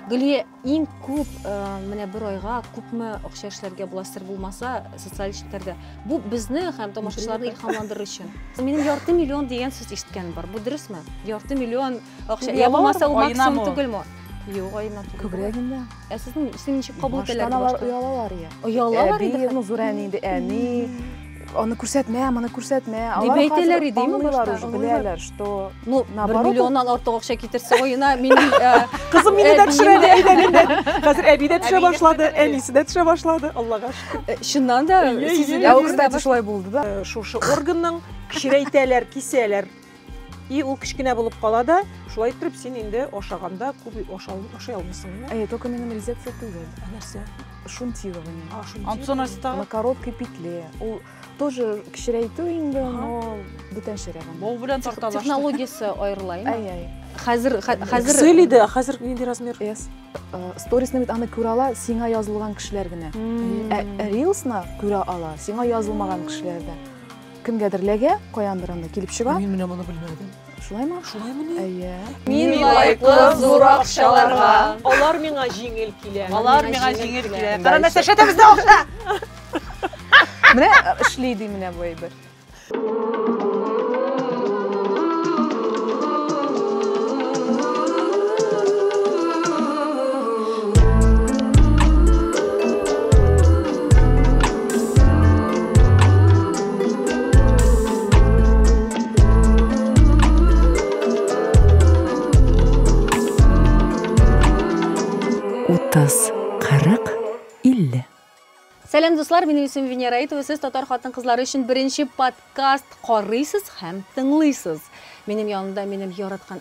Гөлия, иң күп э, менә бер айга күпме акча эшләргә була сер булмаса социаль эшлекләрдә. Бу безне һәм тамашачыларны илһамландырыр өчен. Минем ярты миллион дигән сүз ишеткән бар. Бу дөресме? Ярты миллион Акча, я булмаса ул максимум түгелме? Юк, айына түгел. Күбрәк инде. Ә сезнең син ничек кабул итәләр? Баштан алар оялалар я. Оялалар инде. Әби, Нузурән инде, әни. Аны күрсәтмә, моны күрсәтмә. Дип әйтәләр иде, ме башта? Беләләр, что... Ну, бер миллионнан артык акча китерсе ойына, мин... Э, Кызым мине дә төшерә, әйдә, әйдә. Хәзер әби дә төшә башлады, әнисе дә төшә башлады, Аллага шөкер. Э, чыннан да, сизелә. Ә ул, кстати, шулай булды да. Э, шушы органның кечерәйтәләр, кисәләр. И ул кечкенә булып кала да, шулай иттереп син инде ашаганда күп ашай алмыйсың. Ә это только минем резервте түгел. Ә нәрсә? Шунтирование. А, шунтирование. Антон Аста. На короткой петле. Ул тоже кечерәйтү инде, но бүтәнчерәк. Бау белән тарталаш. Технологиясе аерыла инде. Ай, ай. Хәзер хәзер Excel иде, хәзер нинди размер? Yes. Сторисны бит аны күрә ала, сиңа язылган кешеләр генә. Ә Reelsны күрә ала, сиңа язылмаган кешеләр дә. Кемгәдер ләгә, каяндыр анда килеп чыга. Мин менә моны белмәдем. Шулаймы? Шулаймыни? Әйе. Мин лайклы зур акчаларга. Алар миңа җиңел килә. Алар миңа җиңел килә. Кара мәсәшә дә бездә акча. Менә эшли ди менә бу әйбер. Утыз, кырык, илле. Сәлам дуслар, минем исем Венера Итова. Сез татар хатын-кызлары өчен беренче подкаст карыйсыз һәм тыңлыйсыз. Минем янымда минем яраткан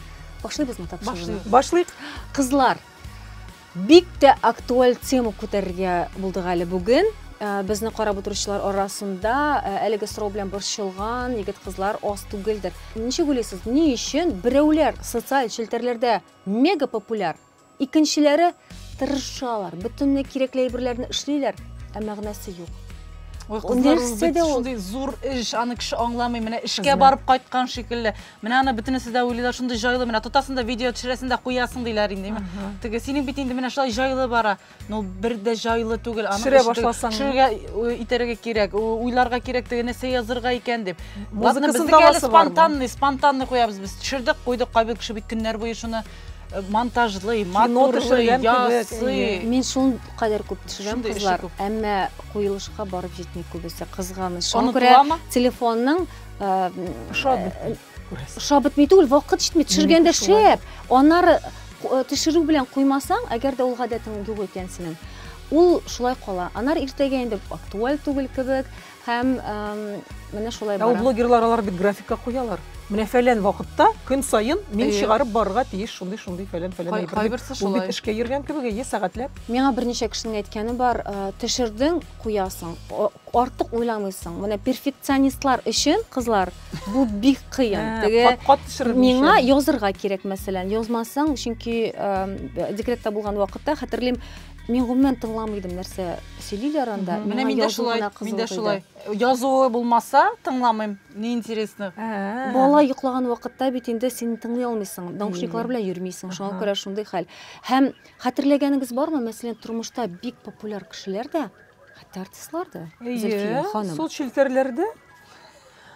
Башлыйбызмы тапшыруны? Башлыйк. Кызлар, бик тә актуаль тема күтәрергә булдык әле бүген. Э, безне карап утыручылар арасында э, әлеге сорау белән борчылган егет кызлар аз түгелдер ничек уйлыйсыз ни өчен берәүләр социаль челтәрләрдә мега популяр Икенчеләре тырышалар, бөтенләй кирәкле әйберләрне эшлиләр, ә мәгънәсе юк. Ой, кызлар, ул бит шундый зур эш, аны кеше аңламый, менә эшкә барып кайткан шикелле. Менә аны бөтенесе дә уйлыйлар, шундый җайлы, менә тотасың да видео төшерәсең дә куясың диләр инде. Теге синең бит инде менә шулай җайлы бара. Ну, бер дә җайлы түгел. Аны Төшерә башласаң. Төшерергә э, итәргә кирәк, уйларга кирәк теге нәрсә язырга икән дип. Ладно, безнеке әле спонтанный, спонтанный куябыз без. Төшердек, куйдык, кайбер кеше бит көннәр буе шуны э, монтажлый, матурлый, ясый. Мин шул кадәр күп төшерәм кызлар, әмма куелышка барып җитми күбесе кызганыч. Шуңа күрә телефонның э, ошады. Күрәсең. Ошап бетми түгел, вакыт җитми. Төшергәндә шәп. Аннары э, төшерү белән куймасаң, әгәр дә ул гадәтең юк икән синең, ул шулай кала. Анар иртәгә инде актуаль түгел кебек һәм менә шулай бара. Ул блогерлар алар бит графикка куялар. Менә фәлән вакытта көн саен мин чыгарып барырга тиеш шундый шундый фәлән фәлән әйбер. Кайберсе шулай. Ул бит эшкә йөргән кебек, әйе, сәгатьләп. Миңа берничә кешенең әйткәне бар, төшердең, куясың. Артык уйламыйсың. Менә перфекционистлар өчен кызлар Бу бик кыен. Теге кат-кат төшереп миңа язырга кирәк, мәсәлән, язмасаң, чөнки декретта булган вакытта хәтерлим, мин гомумән тыңламый идем, нәрсә сөйлиләр анда. Менә миндә шулай, миндә шулай. Язуы булмаса, тыңламыйм. Не интересно. Бала йоклаган вакытта бит инде син тыңлый алмыйсың, наушниклар белән йөрмисең, шуңа күрә шундый хәл. Һәм хәтерләгәнегез бармы, мәсәлән, тормышта бик популяр кешеләр дә Хәтта артистлар да. Әйе, сул челтәрләрдә.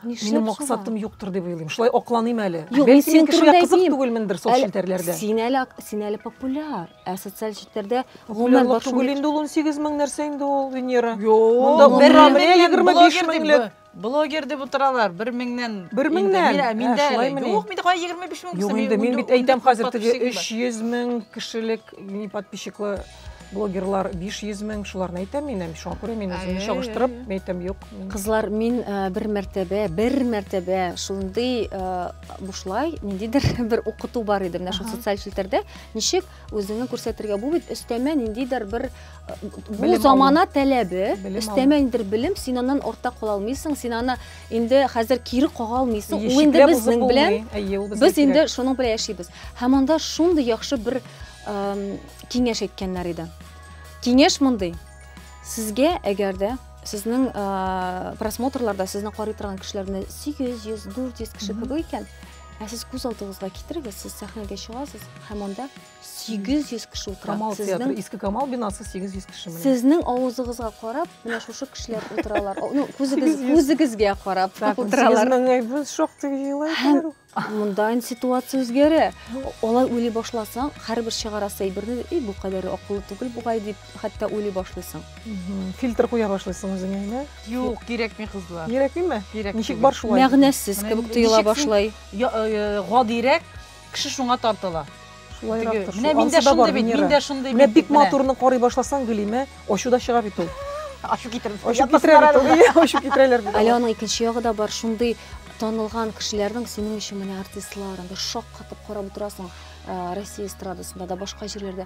Минем максатым юктыр дип уйлыйм. Шулай акланыйм әле. Бәлки мин кешегә кызык түгелмендер сул челтәрләрдә. Син әле син әле популяр. Ә социаль челтәрдә гомумән бар шул. Түгел инде ул 18 мең нәрсә инде ул Венера. Монда бер Рамилә 25 меңлек. Блогер дип утыралар, бер меңнән. Бер меңнән? Ә, миндә әле. Юк, миндә кая 25 мең булсын. Юк, инде мин бит әйтәм хәзер теге 300 мең кешелек мини подписчиклы блогерлар 500 мең, шуларны әйтәм мин, шуңа күрә мин үземне чагыштырып, мин әйтәм, юк. Кызлар, мин э, бер мәртәбә, бер мәртәбә шундый э, бушлай, ниндидер бер укыту бар иде, менә шул социаль челтәрдә, ничек Үзеңне күрсәтергә бу бит өстәмә ниндидер бер бу замана таләбе, өстәмә ниндидер белем, син аннан артта кала алмыйсың, син аны инде хәзер кире кага алмыйсың. Ул инде безнең белән без инде шуның белән яшибез. Һәм анда шундый яхшы бер киңәш әйткәннәр иде. Киңәш мондый. Сезгә әгәр дә сезнең просмотрларда сезне карый торган кешеләрне 800, 400 кеше күбәй икән, Ә сез күз алдыгызга китерегез, сез сәхнәгә чыгасыз һәм анда 800 кеше утыра. Камал театры, иске Камал бинасы 800 кеше менә. Сезнең авызыгызга карап, менә шушы кешеләр утыралар. Ну, күзегез, күзегезгә карап утыралар. 800 меңгә без шактый җыелалар. Монда инде ситуация үзгәрә. Алай уйлый башласаң, һәрбер чыгарасы әйберне, "И, бу кадәр акыллы түгел бугай" дип, хәтта уйлый башлыйсың. Фильтр куя башлыйсың үзеңә, әйме? Юк, кирәкми кызлар. Кирәкмиме? Кирәк. Ничек бар шулай? Мәгънәсез кебек тоела башлый. Э, гадирәк кеше шуңа тартыла. Шулайрак тор. Менә мин дә шундый бит, мин дә шундый бит. Менә бик матурны карый башласаң, Гөлимә, ачу да чыга бит ул. Ачу китерде. Ачу китерәләр. Ачу китерәләр бит. Әле аның икенче ягы да бар, шундый танылган кешеләрнең синең өчен менә артистларын бер шаккатып карап утырасың Россия эстрадасында да башка җирләрдә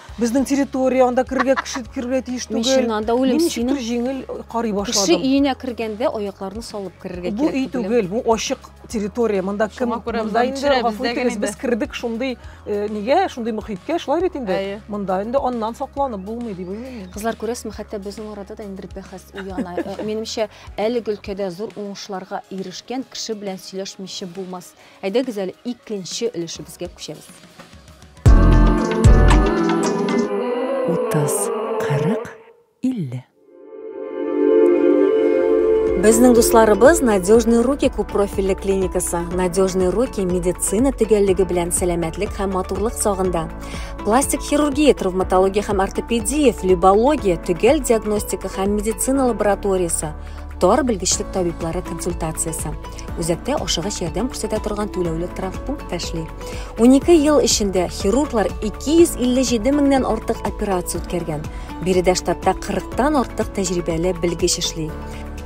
Безнең территория, анда керергә кеше керергә тиеш түгел. Мин чыннан да үлем синең. Мин җиңел карый башладым. Кеше өенә кергәндә аякларны салып керергә кирәк. Бу өй түгел, бу ачык территория. Монда кем? Монда инде гафу итегез, без кердек шундый э, нигә, шундый мөхиткә, шулай бит инде. Монда инде аннан сакланып булмый дип уйлыйм. Кызлар күрәсезме, хәтта безнең арада да инде бәхәс уяна. Э, минемчә, әлеге өлкәдә зур уңышларга ирешкән кеше белән сөйләшмичә булмас. Әйдәгез әле икенче өлешебезгә күчәбез. 30, 40, 50. Безнең дусларыбыз Надежные руки күп профильле клиникасы. Надежные руки медицина төгәллеге белән сәламәтлек һәм матурлык сагында. Пластик хирургия, травматология һәм ортопедия, флебология, төгәл диагностика һәм медицина лабораториясе, тар белгечлек табиблары консультациясе. Үзәктә ашыгыч ярдәм күрсәтә торган түләүле травмпункт та эшли. 12 ел эчендә хирурглар 257 меңнән артык операция үткәргән. Биредә штатта 40-тан артык тәҗрибәле белгеч эшли.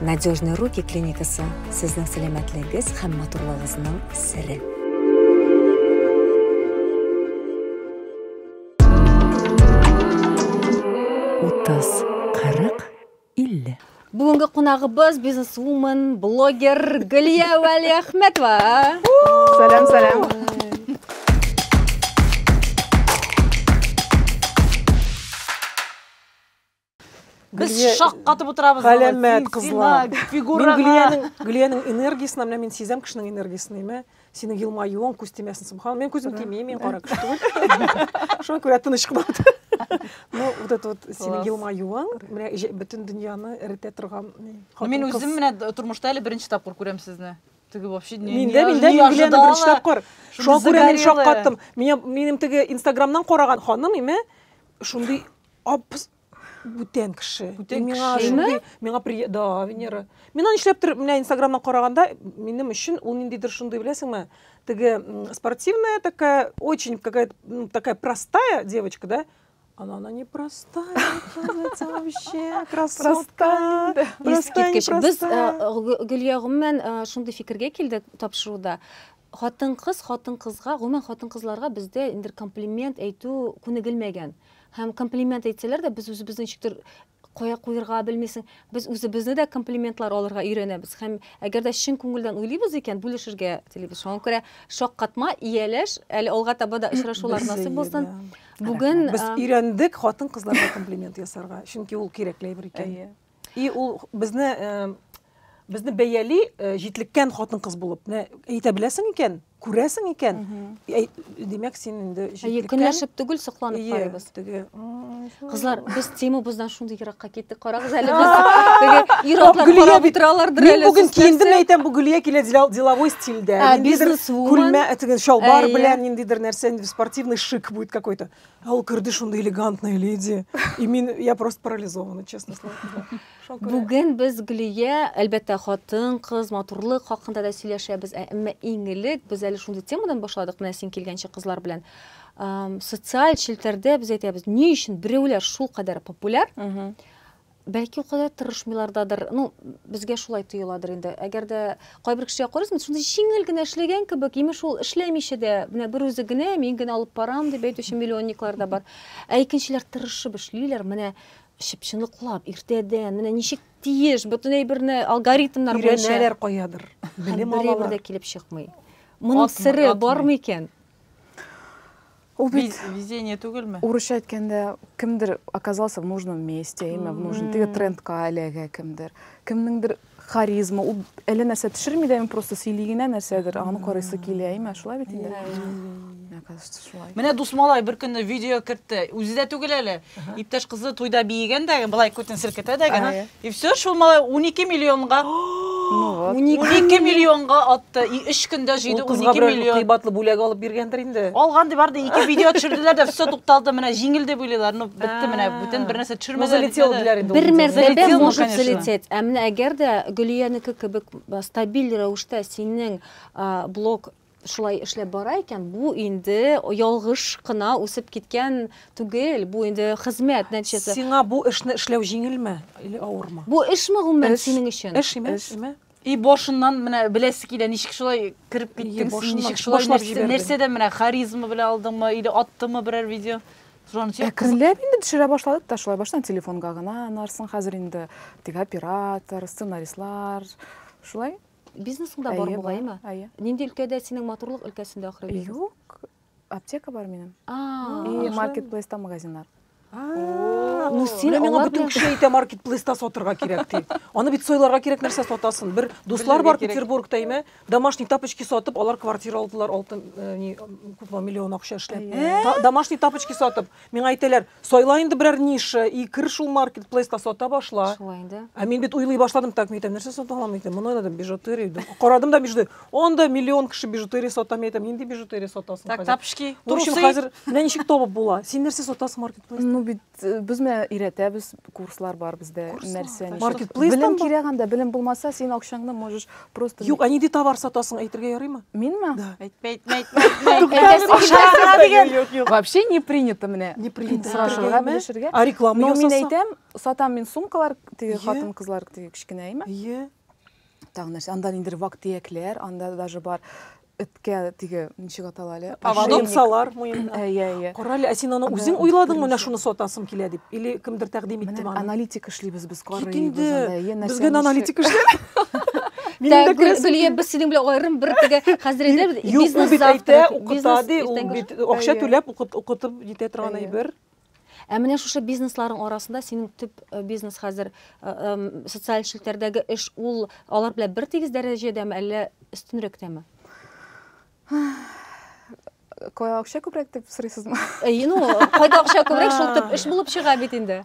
Надежные руки клиникасы сезнең сәламәтлегегез һәм матурлыгыгызның сере. Утыз. 50. Бүгенге кунагыбыз бизнесвумен, блогер Гөлия Вәлиәхмәтова. Сәлам, сәлам. Без Гөлия- шаккатып утырабыз. аңа. Галәмәт Син- кызлар. син, а, Мин Фигураңа. Гөлиянең Гөлиянең энергиясен менә мин сизәм кешенең энергиясен, әйме? синең елмаюың күз тимәсен субхан мен күзім тимей мен кара кеше түгел шуңа күрә тыныч кына ну вот это вот синең елмаюың менә бөтен дөньяны эретә торган мен үзем менә тормышта әле беренче тапкыр күрәм сезне теге вообще не мин дә мин дә мин гүләне беренче тапкыр шуңа күрә мин шаккаттым минем теге инстаграмнан караган ханым име шундый бүтән кеше бүтән миңа шундый миңа при да венера мин аны нишләптер менә инстаграмнан караганда минем өчен ул ниндидер шундый беләсеңме теге спортивная такая очень какая ну, такая простая девочка да она, она не простая, оказывается, вообще красотка. Искиткеч. Без Гөлия гомумән шундый фикергә килдек тапшыруда. Хатын-кыз хатын-кызга, гомумән хатын-кызларга бездә инде комплимент әйтү күнегелмәгән. Һәм комплимент әйтсәләр дә, без үзебезне ничектер кая куерга белмисең. Без үзебезне дә комплиментлар алырга өйрәнәбез. Һәм әгәр дә чын күңелдән уйлыйбыз икән, бүлешергә телибез. Шуңа күрә шаккатма, ияләш, әле алга таба да очрашулар насыйп булсын. Бүген без өйрәндек хатын-кызларга комплимент ясарга, чөнки ул кирәкле әйбер икән. И ул безне безне бәяли э, җитлеккән хатын-кыз булып. Менә әйтә беләсең икән, күрәсең икән. Димәк, син инде җитлеккән. Көнләшеп түгел, сокланып карыйбыз. Теге. Кызлар, без темабыздан шундый еракка киттек. Карагыз әле без. Теге ир-атлар карап утыралардыр әле. Мин бүген киендем әйтәм, бу Гөлия килә деловой стильдә. Ниндидер күлмә, теге шалбар белән ниндидер нәрсә, спортивный шик будет какой-то. А ул керде шундый элегантная леди. И мин, я просто парализована, честно слово. Бүген без Гөлия, әлбәттә, хатын, кыз, матурлык хакында да сөйләшәбез, ә әмма иң элек без әле шундый темадан башладык, менә син килгәнче кызлар белән. Социаль челтәрдә без әйтәбез, ни өчен берәүләр шул кадәр популяр, Бәлки о кадәр тырышмыйлардадыр. Ну, безгә шулай тоеладыр инде. Әгәр дә кайбер кешегә карыйсың, шундый җиңел генә эшләгән кебек, имеш ул эшләмичә дә, менә бер үзе генә, мин генә алып барам дип әйтүче миллионниклар да бар. Ә икенчеләр тырышып эшлиләр, менә чып-чыныклап, иртәдән, менә ничек тиеш, бөтен әйберне алгоритмнар буенча. Өйрәнәләр каядыр, белем алалар. Бер әйбер дә килеп чыкмый. Моның сере бармы икән? Ул бит везение түгелме? Урысча әйткәндә кемдер оказался в нужном месте, имя в нужном, теге трендка эләгә кемдер. Кемнеңдер харизма, ул әле нәрсә төшерми дә, просто сөйли генә нәрсәдер, аны карыйсы килә, имя, шулай бит инде. Менә дус малай бер көнне видео кертте. Үзе дә түгел әле. Иптәш кызы туйда биегән дә, былай күтен селкетә дә генә. И все, шул малай 12 миллионга. 12 миллионга атты. И 3 көндә җыйды 12 миллион. Кыйбатлы бүләк алып биргәндер инде. Алган ди барды, ике видео төшерделәр дә, все тукталды, менә җиңел дип уйлыйлар. Ну, бетте менә, бүтән бер нәрсә төшермәделәр. Залетел диләр инде. Бер мәртәбә может залететь. Ә менә әгәр дә Гөлиянеке кебек стабиль рәвештә синең блог Шулай эшләп бара икән, бу инде ялгыш кына үсеп киткән түгел, бу инде хезмәт нәтиҗәсе. Сиңа бу эшне эшләү җиңелме или авырмы? Бу эшме гомумән синең өчен? Эш, эш, эш. И башыннан менә беләсе килә, ничек шулай кереп киттең, ничек шулай нәрсә, нәрсәдән менә харизма белән алдыңмы или аттымы берәр видео? Әкренләп инде төшерә башладык та шулай, баштан телефонга гына, анарсың хәзер инде теге оператор, сценаристлар, шулай. Бизнесың да бар бугаймы? Әйе. Нинди өлкәдә синең матурлык өлкәсендә ахры бизнес? Юк. Аптека бар минем. И маркетплейста магазиннар. Ну син миңа бөтен кеше әйтә маркетплейста сатырга кирәк ди. Аны бит сойларга кирәк нәрсә сатасын. Бер дуслар бар Петербургта име, домашний тапочки сатып, алар квартира алдылар, алтын э, ни, күпме миллион акча эшләп. Домашний тапочки сатып. Миңа әйтәләр, сайла инде берәр ниша и кер шул маркетплейска сата башла. Шулай инде. Ә мин бит уйлый башладым, так мин әйтәм, нәрсә сата алам икән? Моны уйладым, бижутерия дим. Карадым да бижутерия. Анда миллион кеше бижутерия сата, мин әйтәм, нинди бижутерия сатасың Так, хәзер? тапочки, В общем, трусы. хәзер менә ничек табып була. Син нәрсә сатасың маркетплейста? Ну бит э, без менә өйрәтәбез, курслар бар бездә, Курслар, нәрсә так. ничек. Маркетплейстан Белем бар. кирәк анда, белем булмаса, син акчаңны можешь Просто Юк, ә нинди товар сатасың, әйтергә ярыймы? Минме? Да. Әйтмә, әйтмә, әйтмә, әйтмә. Әйтәсе килмәсә дигән. Юк, юк. Вообще не принято менә. Не принято. Сорашырга, белешергә. А реклама ясаса? Но мин әйтәм, сатам мин сумкалар, теге хатын кызлар теге кечкенәйме? Ие. Тагын нәрсә? Анда ниндер вак-төякләр, анда даже бар. эткә теге ничек атала әле поводок салар муенына иә иә кара әле ә син аны үзең уйладыңмы менә шуны сатасым килә дип или кемдер тәкъдим иттеме аны аналитик эшлибез без карыйбыз аны без генә аналитик гөлия без синең белән аерым бер теге хәзер әйтәбез бизнес завтрак укыта ди ул бит акча түләп укытып җитә торган әйбер Ә менә шушы бизнесларың арасында синең төп э, бизнес хәзер э, эм, социаль челтәрдәге эш ул алар белән бер тигез дәрәҗәдәме, әллә өстенрәктәме? Кая акча күбрәк дип сорыйсызмы? Әйе, ну, кайда акча күбрәк, шул төп эш булып чыга бит инде.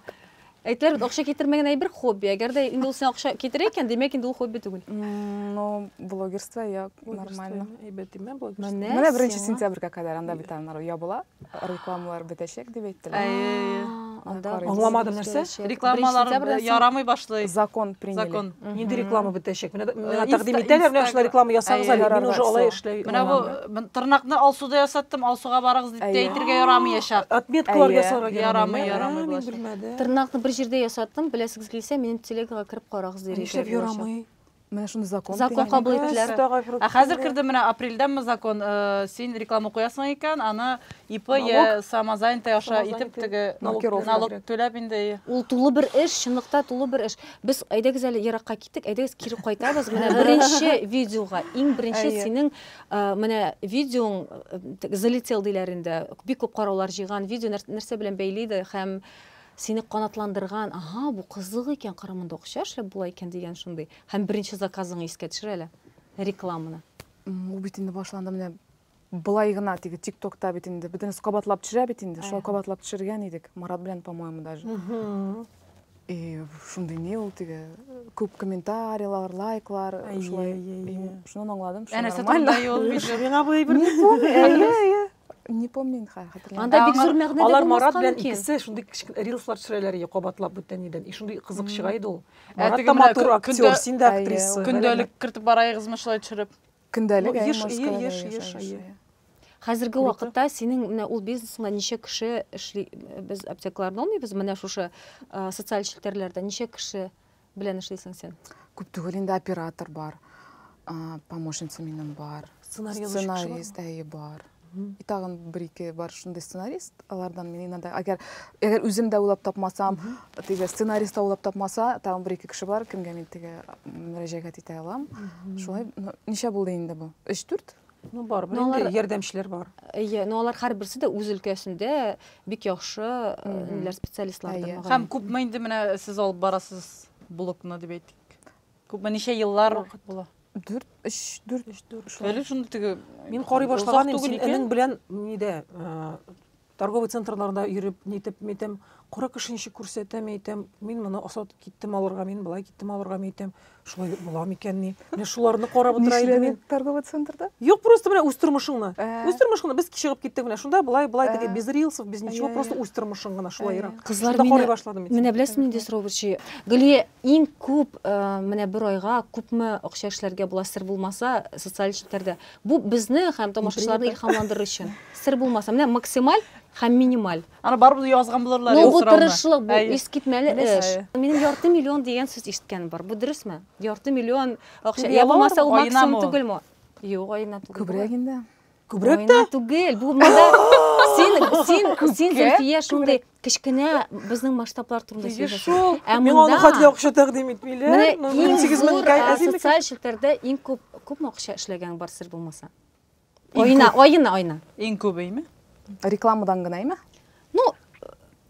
Әйтеләр бит, акча китермәгән әйбер хобби. Әгәр дә инде ул сиңа акча китерә икән, димәк инде ул хобби түгел. М, Ну, блогерство, я нормально. Әйбәт димә блогерство. Менә Менә беренче сиңа. сентябрьгә кадәр анда бит анар ябыла, рекламалар бетәчәк дип әйттеләр. Әйе. Анда Карыйбыз. Аңламадым нәрсә? Рекламалар Беренче сентябрьдә син- ярамый башлый. Закон приняли. Закон. Нинди реклама бетәчәк? Менә э, тәкъдим итәләр, менә шулай реклама ясагыз әле. Мин уже алай эшләй. Менә бу тырнакны Алсуда ясаттым, Алсуга барыгыз дип тә әйтергә ярамый яшәк. Отметкалар ясарга ярамый, ярамый буласы. Тырнакны бер җирдә ясаттым, беләсегез килсә, минем телегага кереп карагыз дип. Нишләп ярамый? Менә шуны закон. Закон кабул иттеләр. Ә хәзер кирде менә апрельдәме закон, э, син реклама куясың икән, аны ИП я самозанятый аша итеп теге налог түләп инде. Ул тулы бер эш, чынлыкта тулы бер эш. Без әйдәгез әле еракка киттек, әйдәгез кире кайтабыз. Менә беренче видеога, иң беренче Әйе. синең э, менә видеоң э, т- залетел диләр инде. Бик күп караулар җыйган видео нәр- нәрсә белән бәйли иде һәм сине канатландырган, ага, бу кызык икән, Кырымында акча эшләп була икән дигән шундый. Һәм беренче заказыңны искә төшер әле. Рекламаны. М, Ул бит инде башланды менә Былай гына теге тиктокта бит инде бөтенесе кабатлап төшерә бит инде. Шулай кабатлап төшергән идек. Марат белән, по-моему, даже. И шундый ни ул теге күп комментарийлар, лайклар, шулай. Шуннан аңладым, что нормально. Әнә юл видео. Миңа бу әйбер. Не помню. Әйе, әйе. Не помню инде хәзер хәтерләмим. Анда бик зур мәгънә дә Алар Марат белән икесе шундый рилслар төшерәләр иде кабатлап бүтән нидән. И шундый кызык чыга иде ул. Марат та матур актер, син дә актриса. Көндәлек кертеп барайыгызмы шулай төшереп? Көндәлек, әйе, Москвада яшәгән. Хәзерге вакытта синең менә ул бизнесыңда ничә кеше эшли? Без аптекаларны алмыйбыз, менә шушы социаль челтәрләрдә ничә кеше белән эшлисең син? Күп түгел инде, оператор бар, помощница минем бар, сценарист әйе бар. тагын бер ике бар шундый сценарист алардан мин иногда әгәр әгәр үзем дә уйлап тапмасам теге сценарист та уйлап тапмаса тагын бер ике кеше бар кемгә мин теге мөрәҗәгать итә алам шулай ничә булды инде бу өч дүрт ну бар ну, алар... ярдәмчеләр бар әйе но алар һәрберсе дә үз өлкәсендә бик яхшы ниләр специалистлардыр һәм күпме инде менә сез алып барасыз блокны дип әйтик Күпме ничә еллар Вакыт була. Дүрт, өч, дүрт. Өч, дүрт. Шулай. Әле шундый теге Мин карый озак башлаган идем, түгел син икән. энең белән нидә, э, торговый центрларда йөреп, нитеп, мәйтәм, кара кеше ничек күрсәтә, мәйтәм, мин моны осат киттем алырга, мин болай киттем алырга, мәйтәм, шулай була микән ни? Менә шуларны карап утыра идем Нишләдең мин. торговый центрда? Юк, просто менә үз тормышың гына. Ә. Үз тормышың гына. Без чыгып киттек менә шунда, болай, болай Ә. теге, без рилсов, без ничего, Әйе, просто әйе. үз тормышың гына, Әйе. шулайрак. Кызлар Шунда карый мине, башладым мин. менә беләсезме нинди сорау борчый? Гөлия, Иң күп, менә бер айга күпме акча эшләргә була, сер булмаса, социаль челтәрдә. Бу безне һәм тамашачыларны илһамландырыр өчен. Сер булмаса, менә максималь һәм минималь. Аны барыбыз язган булырлар инде сорауны. Ну бу тырышлык, бу искитмәле эш. Минем ярты миллион дигән сүз ишеткәнем бар. Бу дөресме? Ярты миллион акча. Йә булмаса, ул максимум түгелме? Юк, аена түгел. Күбрәк инде. Күбрәк тә? түгел. Бу монда син син син Зөлфия шундый кечкенә безнең масштаблар турында сөйләшәсең. Ә мин аны хәтле акча тәкъдим итмиләр. Менә 8 мең социаль челтәрдә иң күп күпме акча эшләгән бар сер булмаса? Айына, айына, айына. Иң күбеме? Рекламадан гынамы? Ну,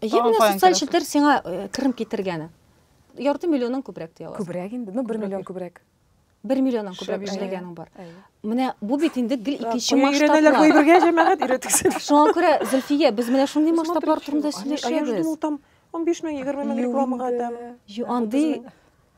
я менә социаль челтәр сиңа керем китергәне. Ярты миллионнан күбрәк дияләр. Күбрәк инде. Ну, 1 миллион күбрәк. Бер миллионнан күбрәк Шәп, эшләгәнең бар. Әйе. Менә бу бит инде гел икенче Кая өйрәнәләр масштаблар. гыйбергә җәмәгать өйрәтексез. Шуңа күрә, Зөлфия, без менә шундый Посмотрите, масштаблар турында они- а я жду, ну, сөйләшәбез. там 15 мең, 20 мең рекламага там. Ю, андый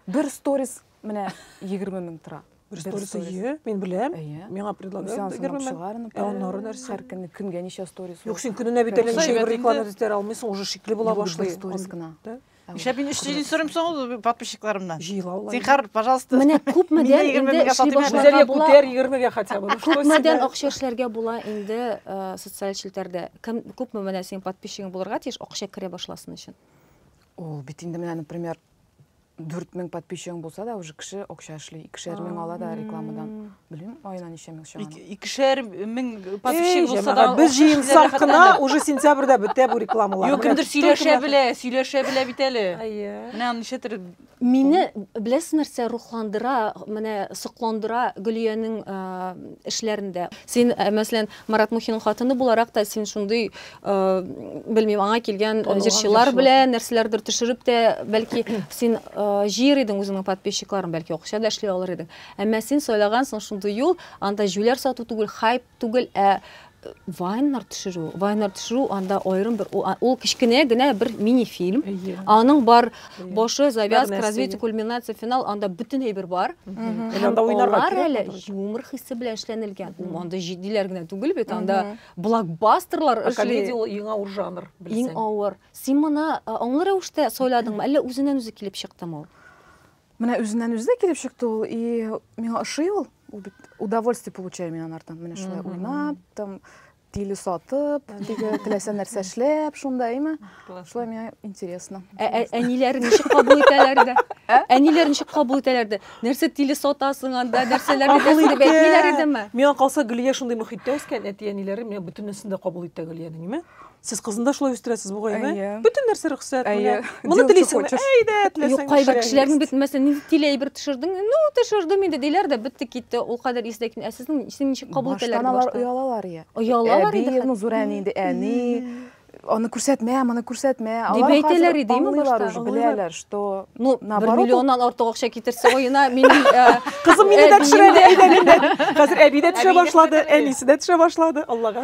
Бер сторис менә 20 мең тора. Бер сторис, сторис. әйе, мин беләм. Әйе. Миңа Үсен предлагают аңсынып 20 мең. чыгар, ну, Ә аннары нәрсә? Һәр көнне көнгә ничә сторис? Юк, син көненә бит әллә Юкса ничә әйбәт бер инде. реклама да этәрә алмыйсың, уже шикле була Бу бер башлый. сторис Ан- гына. Да? Нишләп мин өч тиен сорыйм соң ул подписчикларымнан? Җыйлаулар. Зинхар, пожалуйста. Менә күпмедән инде эшли башларга була. Күтәр 20-гә хотя бы. Күпмедән акча эшләргә була инде э, социаль челтәрдә. Кем күпме менә синең подписчигың булырга тиеш акча керә башласын өчен. Ул бит инде менә, например, 4000 подписчигың булса да уже кеше акча эшли, икешәр мең ала да рекламадан. Белмим, айына ничә мең чыга. Икешәр мең подписчик булса да, без җыенсак кына уже сентябрьдә бетә бу рекламалар. Юк, кемдер сөйләшә белә, сөйләшә белә бит әле. Әйе. Менә ничә төр. Мине беләсез нәрсә рухландыра, менә сокландыра Гөлиянең эшләрендә. Син, мәсәлән, Марат Мухинның хатыны буларак та син шундый, белмим, аңа килгән җырчылар белән нәрсәләрдер төшереп тә, бәлки син җыер идең үзеңнең подписчикларын, бәлки акча да эшли алыр идең. Әмма син сайлагансың шундый юл, анда җүләр сату түгел, хайп түгел, ә вайннар төшерү. Вайннар төшерү анда аерым бер ул кечкенә генә бер мини-фильм. Аның бар башы, завязка, развитие, кульминация, финал, анда бөтенләй бер бар. Анда уйнарга әле юмор хисе белән эшләнелгән. Анда җитдиләр генә түгел бит, анда блокбастерлар эшли. Комедия ул иң авыр жанр, белсәң. Иң авыр. Син моны аңлы рәвештә сайладыңмы, әллә үзеннән-үзе килеп чыктымы ул? Менә үзеннән үзе дә килеп чыкты ул, и миңа ошый ул. Ул бит удовольствие получаю мин анардан. Менә шулай уйнап, там тиле сатып, теге теләсә нәрсә эшләп, шунда, әйме? Шулай миңа интересно. Ә, ә, әниләр ничек кабул итәләр дә? Ә? Әниләр ничек кабул итәләр дә? Нәрсә тиле сатасың анда, нәрсәләр итәсең дип әйтмиләр идеме? Миңа калса Гөлия шундый мөхиттә үскән, әти-әниләре миңа бөтенесен дә кабул итә Гөлиянең, әйме? Сез кызында шулай үстерәсез бугайны. Әйе. Бөтен нәрсә рөхсәт. Әйе. Моны телисеңме? Әйдә, теләсәң. Юк, кайбер кешеләрнең бит мәсәлән, нинди тиле әйбер төшердең? Ну, төшердем инде диләр дә, бетте китте. Ул кадәр исле кин. Ә сезнең син ничек кабул итәләр башта? Алар оялалар я. Оялалар инде. Әби, ну, зур әни инде, әни. Аны күрсәтмә, моны күрсәтмә. Алар әйтәләр иде, ме башта? Беләләр, что ну, бер миллионнан артык акча китерсә оена, мин э, кызым мине дә төшерә, әйдә, әйдә. Хәзер әби дә төшә башлады, әнисе дә төшә башлады. Аллага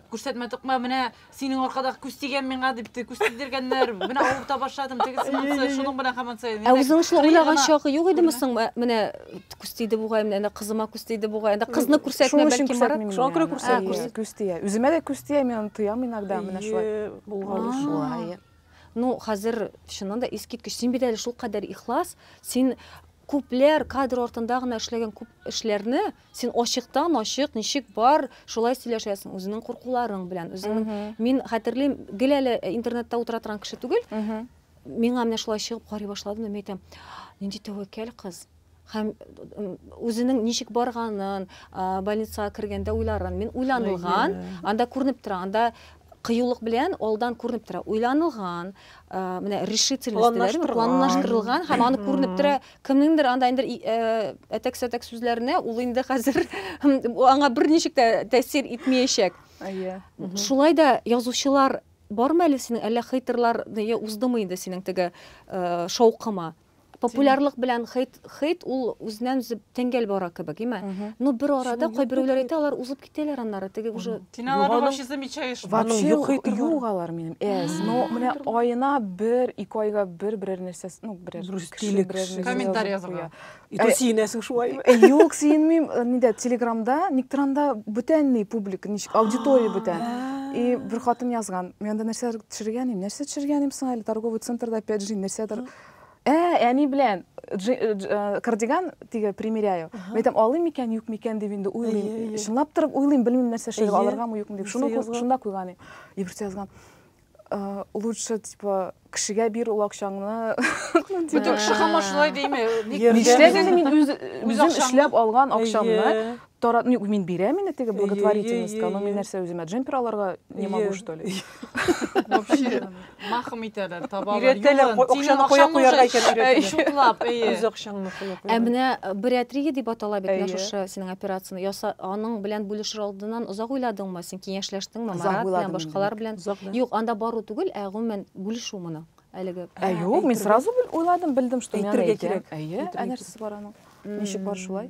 Күрсәтмә токма, менә синең аркадагы күз тигән миңа дип те- күз тидергәннәр, менә авырып та башладым, тегесе Әйе, монысы, әйе. шуның белән һаман саен. Ә Әнә үзең шулай кырые уйлаган гына чагы юк идеме күренә. соң? Ә, Менә күз тиде бугай, менә әнә кызыма күз тиде бугай. Әнә кызны Шуның күрсәтмә, өчен бәлки Марат. күрсәтмим Шуңа мин күрә аны. күрсәтмисең. Әйе, күрсәт. Күз тия. Үземә дә күз тия, мин аны тоям иногда, менә шулай. Әйе, булган А. шулай. Ну, хәзер чыннан да искиткеч. Син бит әле шулкадәр ихлас, син күпләр кадр артында гына эшләгән күп эшләрне Син ачыктан-ачык ничек бар, шулай сөйләшәсең үзеңнең куркуларың белән. Үзеңнең мин хәтерлим, гел әле э, интернетта утыра торган кеше түгел. Миңа менә шулай чыгып карый башлады да мин әйтәм, нинди тәвәккәл кыз. Һәм үзенең ничек барганын, больницага кергәндә уйларын, мин уйланылган, анда күренеп тора, анда кыюлык белән алдан күренеп тора. Уйланылган, менә решительность, планлаштырылган һәм аны күренеп тора Кемнеңдер анда инде әтәк-сәтәк сүзләренә ул инде хәзер аңа берничек тә тәэсир итмәячәк. Әйе. Шулай да язучылар бармы әле синең, әллә хейтерлар уздымы инде синең теге шаукыма? популярлык белән хейт хейт ул үзеннән үзе тәңгәл бара кебек име ну бер арада кайберәүләр әйтә алар узып Китәләр аннары, теге уже... Син аларны Югалу- вообще замечаешь. Ва- Аның Вообще юк итеп бар. юк алар минем. Әз. Но Мгм. менә аена бер, ике айга бер берәр нәрсә, ну, берәр Бер кеше, стиле берәр кеше. нәрсә Комментарий язып язарга. куя. И то Э, сөенәсең шулаймы? Э, Юк, сөенмим. Э, Нидә, Телеграмда, никтер анда бүтәнни публика, ничек, аудитория бүтән. И бер хатын язган, мин анда нәрсәдер төшергән идем. Нәрсә төшергән идем соң әле? Торговый центрда, опять же, нәрсәдер. Ә, әни белән кардиган теге примеряю. Мин әйтәм, алыйм микән, юк микән дип инде уйлыйм. Чынлап торып уйлыйм, белмим нәрсә эшләргә, алыргамы, юкмы дип. Шуны шунда куйган идем. Иберсе язган. Э, лучше типа кешегә бир ул акчаңны бөтен кеше хамар шулай дейме нишләгәндә мин үз үзем эшләп алган акчамны Тора, ну, мин бирәм инде теге благотворительностька, но мин нәрсә үземә джемпер алырга не могу, что ли? Вообще, махым итәләр, табалар. Өйрәтәләр, акчаны куя куярга икән өйрәтәләр. Шутлап, әйе. Үз акчаңны куя куя. Ә менә бариатрия дип атала бит менә шушы синең операцияне яса, аның белән бүлешер алдыннан озак уйладыңмы? Син киңәшләштеңме Марат белән, башкалар белән? Юк, анда бару түгел, ә гомумән бүлешү моны. Әлеге. Ә юк, мин сразу уйладым, белдем, что мин әйтергә кирәк. Әйе, ә нәрсәсе бар аның? Ничек бар шулай?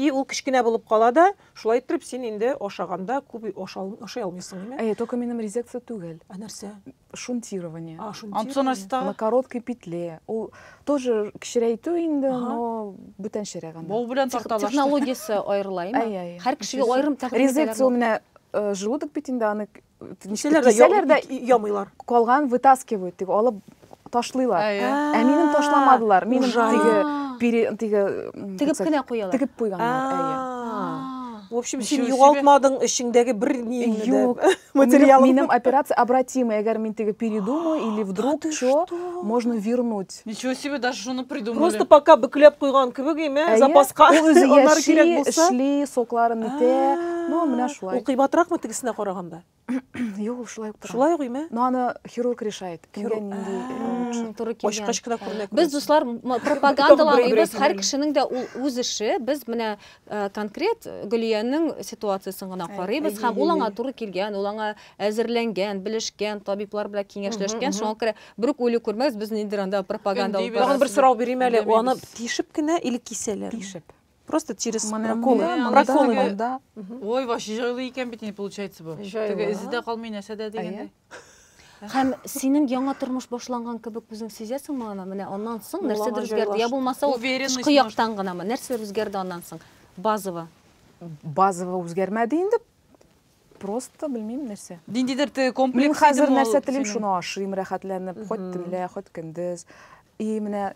И ул кечкенә булып кала да, шулай иттереп син инде ашаганда күп ашый алмыйсың, име? Әйе, только минем резекция түгел. Ә нәрсә? Шунтирование. А, шунтирование. На короткой петле. Ул тоже кечерәйтү инде, но бүтәнчәрәк анда. Бул белән тарталаш. Технологиясе аерыла, име? Әйе, әйе. Һәр кешегә аерым тәкъдим итәләр. Резекция менә э, желудок бит инде, аны Ничәләр дә Кисәләр дә- я- ямыйлар. Калган вытаскивают, теге алып ташлыйлар. Әйе. Ә минем ташламадылар. Минем ужас. теге А. пере- теге м, Тегеп так кенә сказать, куялар. Тегеп куйганнар, әйе. А. В общем, син Ничего себе. югалтмадың эчеңдәге бер ниеңне дә. Юк. Минем, Материалыңны. минем операция обратимая. Әгәр мин теге передумаю или вдруг чё, можно вернуть. Ничего себе, даже шуны придумали. Просто пока бөкләп куйган кебек име, Әйе, запаска. Ул үзе Аннары яши, кирәк булса. эшли, сокларын итә. Ну, менә шулай. Ул кыйбатыракмы тегесенә караганда? Юк, ул шулай ук тора. Шулай ук име? Но аны хирург решает. Кемгә Хирург. нинди э, лучше. М, Туры килгән. Ачкач кына күренә. Без дуслар м- пропагандаламыйбыз, Бер-берегез һәр белән. кешенең дә ул үз эше. Без менә э, конкрет Гөлиянең ситуациясен гына Әй, карыйбыз әй, һәм әй, ул әй, аңа әй. туры килгән, ул аңа әзерләнгән, белешкән, табиблар белән киңәшләшкән, мгм. шуңа күрә Бер үк үле күрмәс, без ниндер анда пропаганда алып Тагын бер сорау бирим әле. Аны тишеп кенә или кисәләр? Тишеп. Просто через проколы. Проколы монда. Ой, ваш җайлы икән бит инде получается бу. Теге эзе дә калмый, нәрсә дә дигәндәй. Һәм синең яңа тормыш башланган кебек үзең сизәсеңме аны? Менә аннан соң нәрсәдер үзгәрде. Я булмаса ул тышкы яктан гынамы? Нәрсәләр үзгәрде аннан соң? Базово. Базово үзгәрмәде инде. Просто белмим нәрсә. Ниндидер ты комплекс Мин хәзер идеме ул нәрсә телим, синең? шуны ашыйм рәхәтләнеп, хоть төнлә, хоть көндез. И менә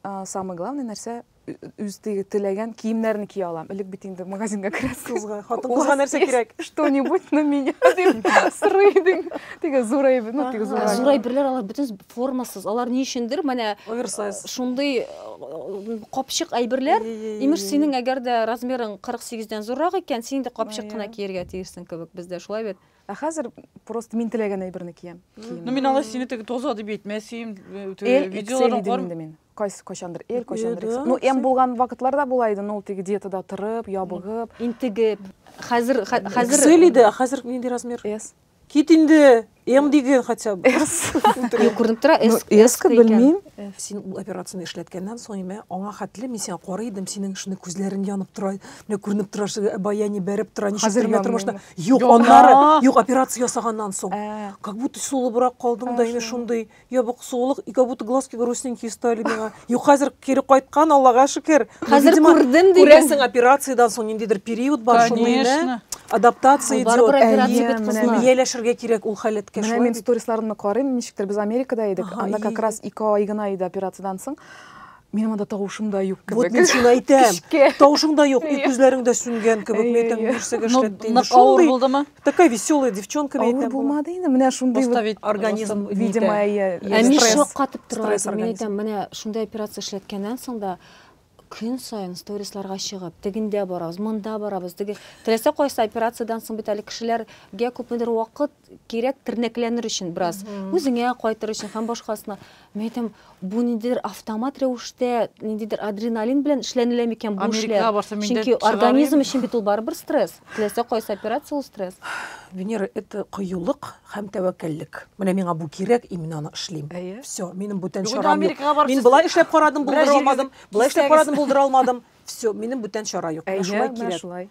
а, самый главный нәрсә ү- үз теге теләгән киемнәрне кия алам. Элек бит инде магазинга керәсең. Кызга, хатын У кызга вас нәрсә есть кирәк? Что-нибудь на меня дип сорый идең. Теге зурай, ну теге Ә зурай. Зурай берләр алар бөтен Формасыз, алар ни өчендер менә Оверсайз. шундый э, капчык әйберләр. Ей-ей-ей-ей. Имеш, синең әгәр дә размерың 48 дән зуррак икән, син инде капчык Ая. кына киергә тиешсең кебек бездә, шулай бит? Ә хәзер просто мин теләгән әйберне киям. Ну мин алай сине теге тоза дип әйтмәсим. э, теге Эл, XL видеолардан идем кар- инде мин. Кайсы кайчандыр Эл, кайчандыр Ел, XL. Ну, М булган вакытлар да була иде, но ул теге диетада торып, ябыгып. Интегеп. Хәзер хә- хәзер XL иде, ә хәзер нинди размер? S. Кит инде, М диген хотя бы. Юк, күренеп тора, Ну, эс- эска эска икән. белмим. Син ул операцияне эшләткәннән соң име, аңа хәтле мин сиңа карый идем, синең шундый күзләрең янып тора, менә күренеп тора, шундый баяни бәреп тора, ничек Хәзер тормый тормышта. янмыймы? Юк, Юк. аннары, А. юк, операция ясаганнан соң. Ә. Как будто сулыбрак калдың да, Ә, инде шулай. шундый Я бу кысылулык, и как будто глазки грустненькие стали миңа. Юк, хәзер кире кайткан, Аллага шөкер. Ну, Хәзер видимо, күрдем диген. Күрәсең, операциядән соң ниндидер период бар, шуны инде Конечно. адаптация Ул барыбер идет. операция Әйе, бит менә кызлар. мин- Ияләшергә кирәк ул халәткә Менә шулай мин бит. сторисларымны карыйм, ничектер без Америкада идек, Ага, анда ие, как ие. раз ике ай гына иде операциядән соң. Минем анда тавышым да юк Вот кебек. мин шуны әйтәм. Кичке. Тавышың да юк, и Ие. күзләрең дә сүнгән кебек. Ие, Мин әйтәм, ие. нәрсәгә Ну, эшләтте инде. нык авыр Шундый булдымы? Такая веселая девчонка мен әйтәм. Булмады инде, менә шундый организм, видимо, я. Әми шаккатып тора. Мин әйтәм, менә шундый операция эшләткәннән соң да көн сайын сторисларга чыгып, тегендә барабыз, монда барабыз, теге теләсә кайсы операциядән соң бит әле кешеләргә күпмедер вакыт кирәк тернәкләнер өчен бераз, үзеңә кайтыр өчен һәм башкасына. Мин әйтәм, бу ниндидер автомат рәвештә, ниндидер адреналин белән эшләнелә микән бу эшләр? Чөнки организм өчен бит ул барыбер стресс. Теләсә кайсы операция ул стресс. Венера это кыюлык һәм тәвәккәллек. Менә миңа бу кирәк, и мин аны эшлим. Все, минем бүтән чарам юк. Мин болай эшләп карадым, булдыра алмадым, болай эшләп карадым, булдыра алмадым. Все, минем бүтән чара юк. Менә шулай кирәк.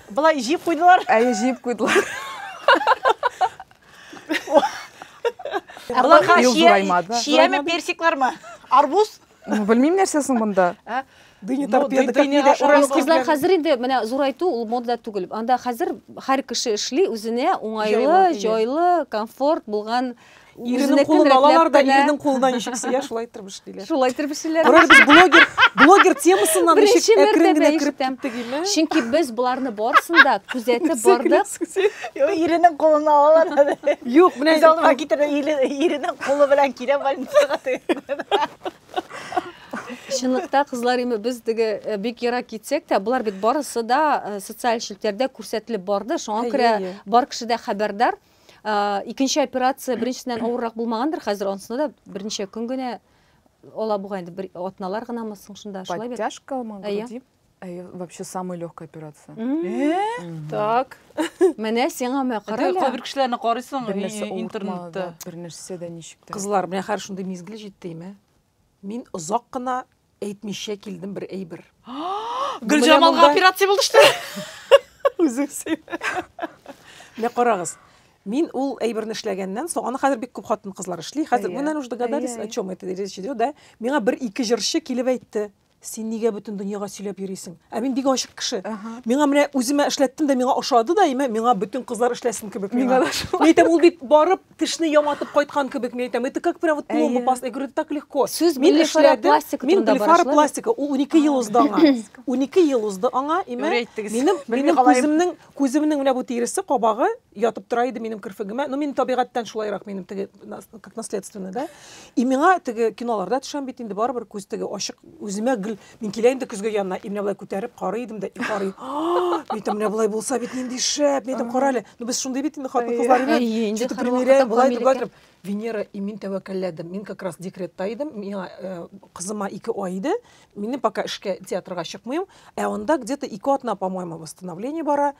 Былай җиеп куйдылар. Әйе, җиеп куйдылар. Аларга чияме, персиклармы? Арбуз? Ну, белмим нәрсә соң монда. Ә? Дыня торпеда, как не дошла. Кызлар хәзер инде менә зурайту ул мода түгел. Анда хәзер һәр кеше эшли, үзенә уңайлы, җайлы, комфорт булган Иренең кулын алалар да, иренең кулына ничек сыя, шулай итеп эшлиләр. Шулай итеп эшлиләр. Карар без блогер, блогер темасыннан ничек әкрен генә кереп киттек инде. Чөнки без боларны барсын да күзәтеп бардык. Иренең кулын алалар да. Юк, менә без алдыма китерде, иренең кулы белән килә больницага. Чынлыкта кызлар име без диге э, бик ерак китсәк тә, болар бит барысы да э, социаль челтәрдә күрсәтелеп барды. Шуңа күрә бар кеше дә хәбәрдар. Ә, икенче операция беренчесеннән авыррак булмагандыр хәзер, анысында да берничә көн генә ала бугай инде, бер атналар гынамы соң шунда, шулай бит? Подтяжка ма, Әйе. груди? Әйе, вообще самая легкая операция. М, Так. Менә сиңа мә, кара Әтәй, әле. кайбер кешеләрне карыйсың Бернәрсә и- и- интернетта. авыртмады, бернәрсә дә ничек тә. Кызлар, менә хәзер шундый мизгел җитте, имә. Мин озак кына әйтмичә килдем бер әйбер. Гөлҗамалга операция булды что? Үзең сөйлә. Менә карагыз. Мин ул әйберне эшләгәннән соң, аны хәзер бик күп хатын-кызлар эшли. Хәзер менә уж догадались, о чем это речь идет, да? Миңа бер ике җырчы килеп әйтте. син нигә бөтен дөньяга сөйләп йөрисең? Ә мин бик ачык кеше. Миңа менә үземә эшләттем дә миңа ошады да, имә, миңа бөтен кызлар эшләсен кебек миңа. Миңа да шулай. Мин әйтәм, ул бит барып тешне яматып кайткан кебек, мин әйтәм, это как прям вот пломба Әйе. паста. Я говорю, так легко. Сүз Мин блефаропластика эшләдем, мин турында бара, шулай бит? блефаропластика, ул 12 ел узды аңа. 12 ел узды аңа, имә, Юри әйттегез. минем, Белми минем калаем. күземнең, күземнең менә бу тиресе, кабагы, ятып тора иде минем керфегемә. Ну, мин табигатьтән шулайрак, минем теге как наследственный, да? И миңа теге киноларда төшәм бит инде барыбер күз теге ачык үземә гел мин килә инде көзгә янына, и менә болай күтәреп карый идем дә, и карый. Әйтәм, менә болай булса бит нинди шәп, мин әйтәм, кара әле. Ну, без шундый бит инде хатын-кызлар белән. Что-то примеряем, болай дип, болай дип. Венера, и мин тәвәккәлләдем. Мин как раз декретта идем, миңа э, кызыма ике ай иде. Минем пока эшкә театрга чыкмыйм. Ә анда где-то ике атна, по-моему, восстановление бара.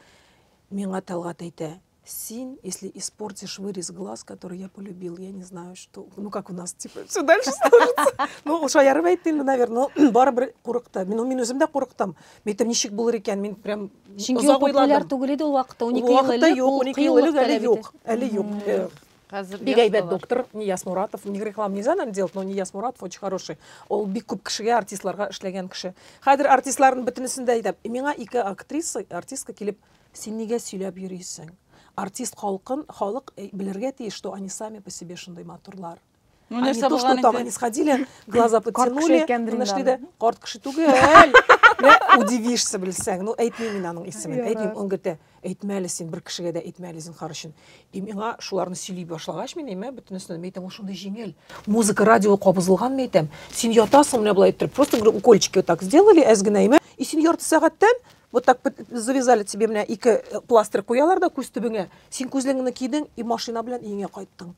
Миңа Тәлгать әйтә, Син, если испортишь вырез глаз, который я полюбил, я не знаю, что, ну как у нас, типа, все дальше сложится. Ну, ул шаярып әйтте инде, наверное, но барыбер курыкты. Мин, мин үзем дә курыктым. Мин әйтәм, ничек булыр икән, мин прям Чөнки озак популяр ойладым. түгел иде ул вакытта, 12 ел Вакытта элек юк, ул 12 ел элек кыюлык әле таләп юк, итә. әле юк. Э, Хәзер Бик әйбәт доктор Нияз Муратов. Ни реклам нельзя нам делать, но Нияз Муратов очень хороший. Ул бик күп кешегә, артистларга эшләгән кеше. Хәзер артистларның бөтенесен дә әйтәм. Миңа ике актриса, артистка килеп, син нигә сөйләп йөрисең? Артист халкын, халык э, белергә тиеш, что они сами по себе шундый матурлар. Ну, Они нәрсә то, что булган там инде? они сходили, глаза кеше подтянули, икән менә шли дә, Дриндан. карт кеше түгел. Менә Удивишься белсәң. Ну, әйтмим мин аның исемен. Ярар. Әйтмим, он говорит, «Ә, әйтмә әле син, бер кешегә дә әйтмә әле зинһар өчен. И миңа шуларны сөйли башлагач, мин әйме, бөтенесен мин әйтәм, ул шундый җиңел. Музыка радио кабызылган мин әйтәм. Син ятасың менә болай иттереп. Просто говорю, укольчики вот так сделали, әз генә әйме. И син ярты сәгатьтән Вот так завязали тебе менә ике э, пластырь куялар да күз төбеңә. Син күзлегеңне кидең и машина белән өеңә кайттың.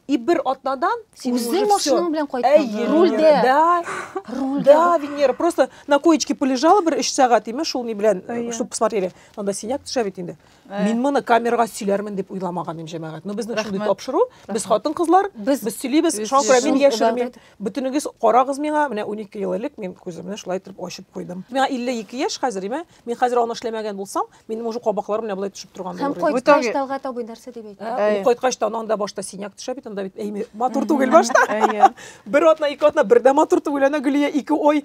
И бер атнадан син Үзең машинаң белән кайттың. Рульдә. Да. Рульдә. Да, Венера, просто на коечке полежала бер 3 сәгать име шул ни белән, э, чтобы посмотрели. Анда синяк төшә бит инде. Э. Мин моны камерага сөйләрмен дип уйламаган идем, җәмәгать. Ну безнең шундый тапшыру, без хатын-кызлар, без без сөйлибез, шуңа күрә мин яшермим. Бөтенегез карагыз миңа, менә 12 ел элек мин күземне шулай итеп ачып куйдым. Миңа 52 яшь хәзер, имә, мин хәзер аны эшләмәгән булсам, минем уже кабаклар менә болай төшеп торган булыр. Һәм кайткач талга табый нәрсә дип әйтте. Э, кайткач та аның да башта синяк төшә бит, анда бит әйме матур түгел башта. Бер атна, ике атна бердә матур түгел, әнә Гөлия ике ой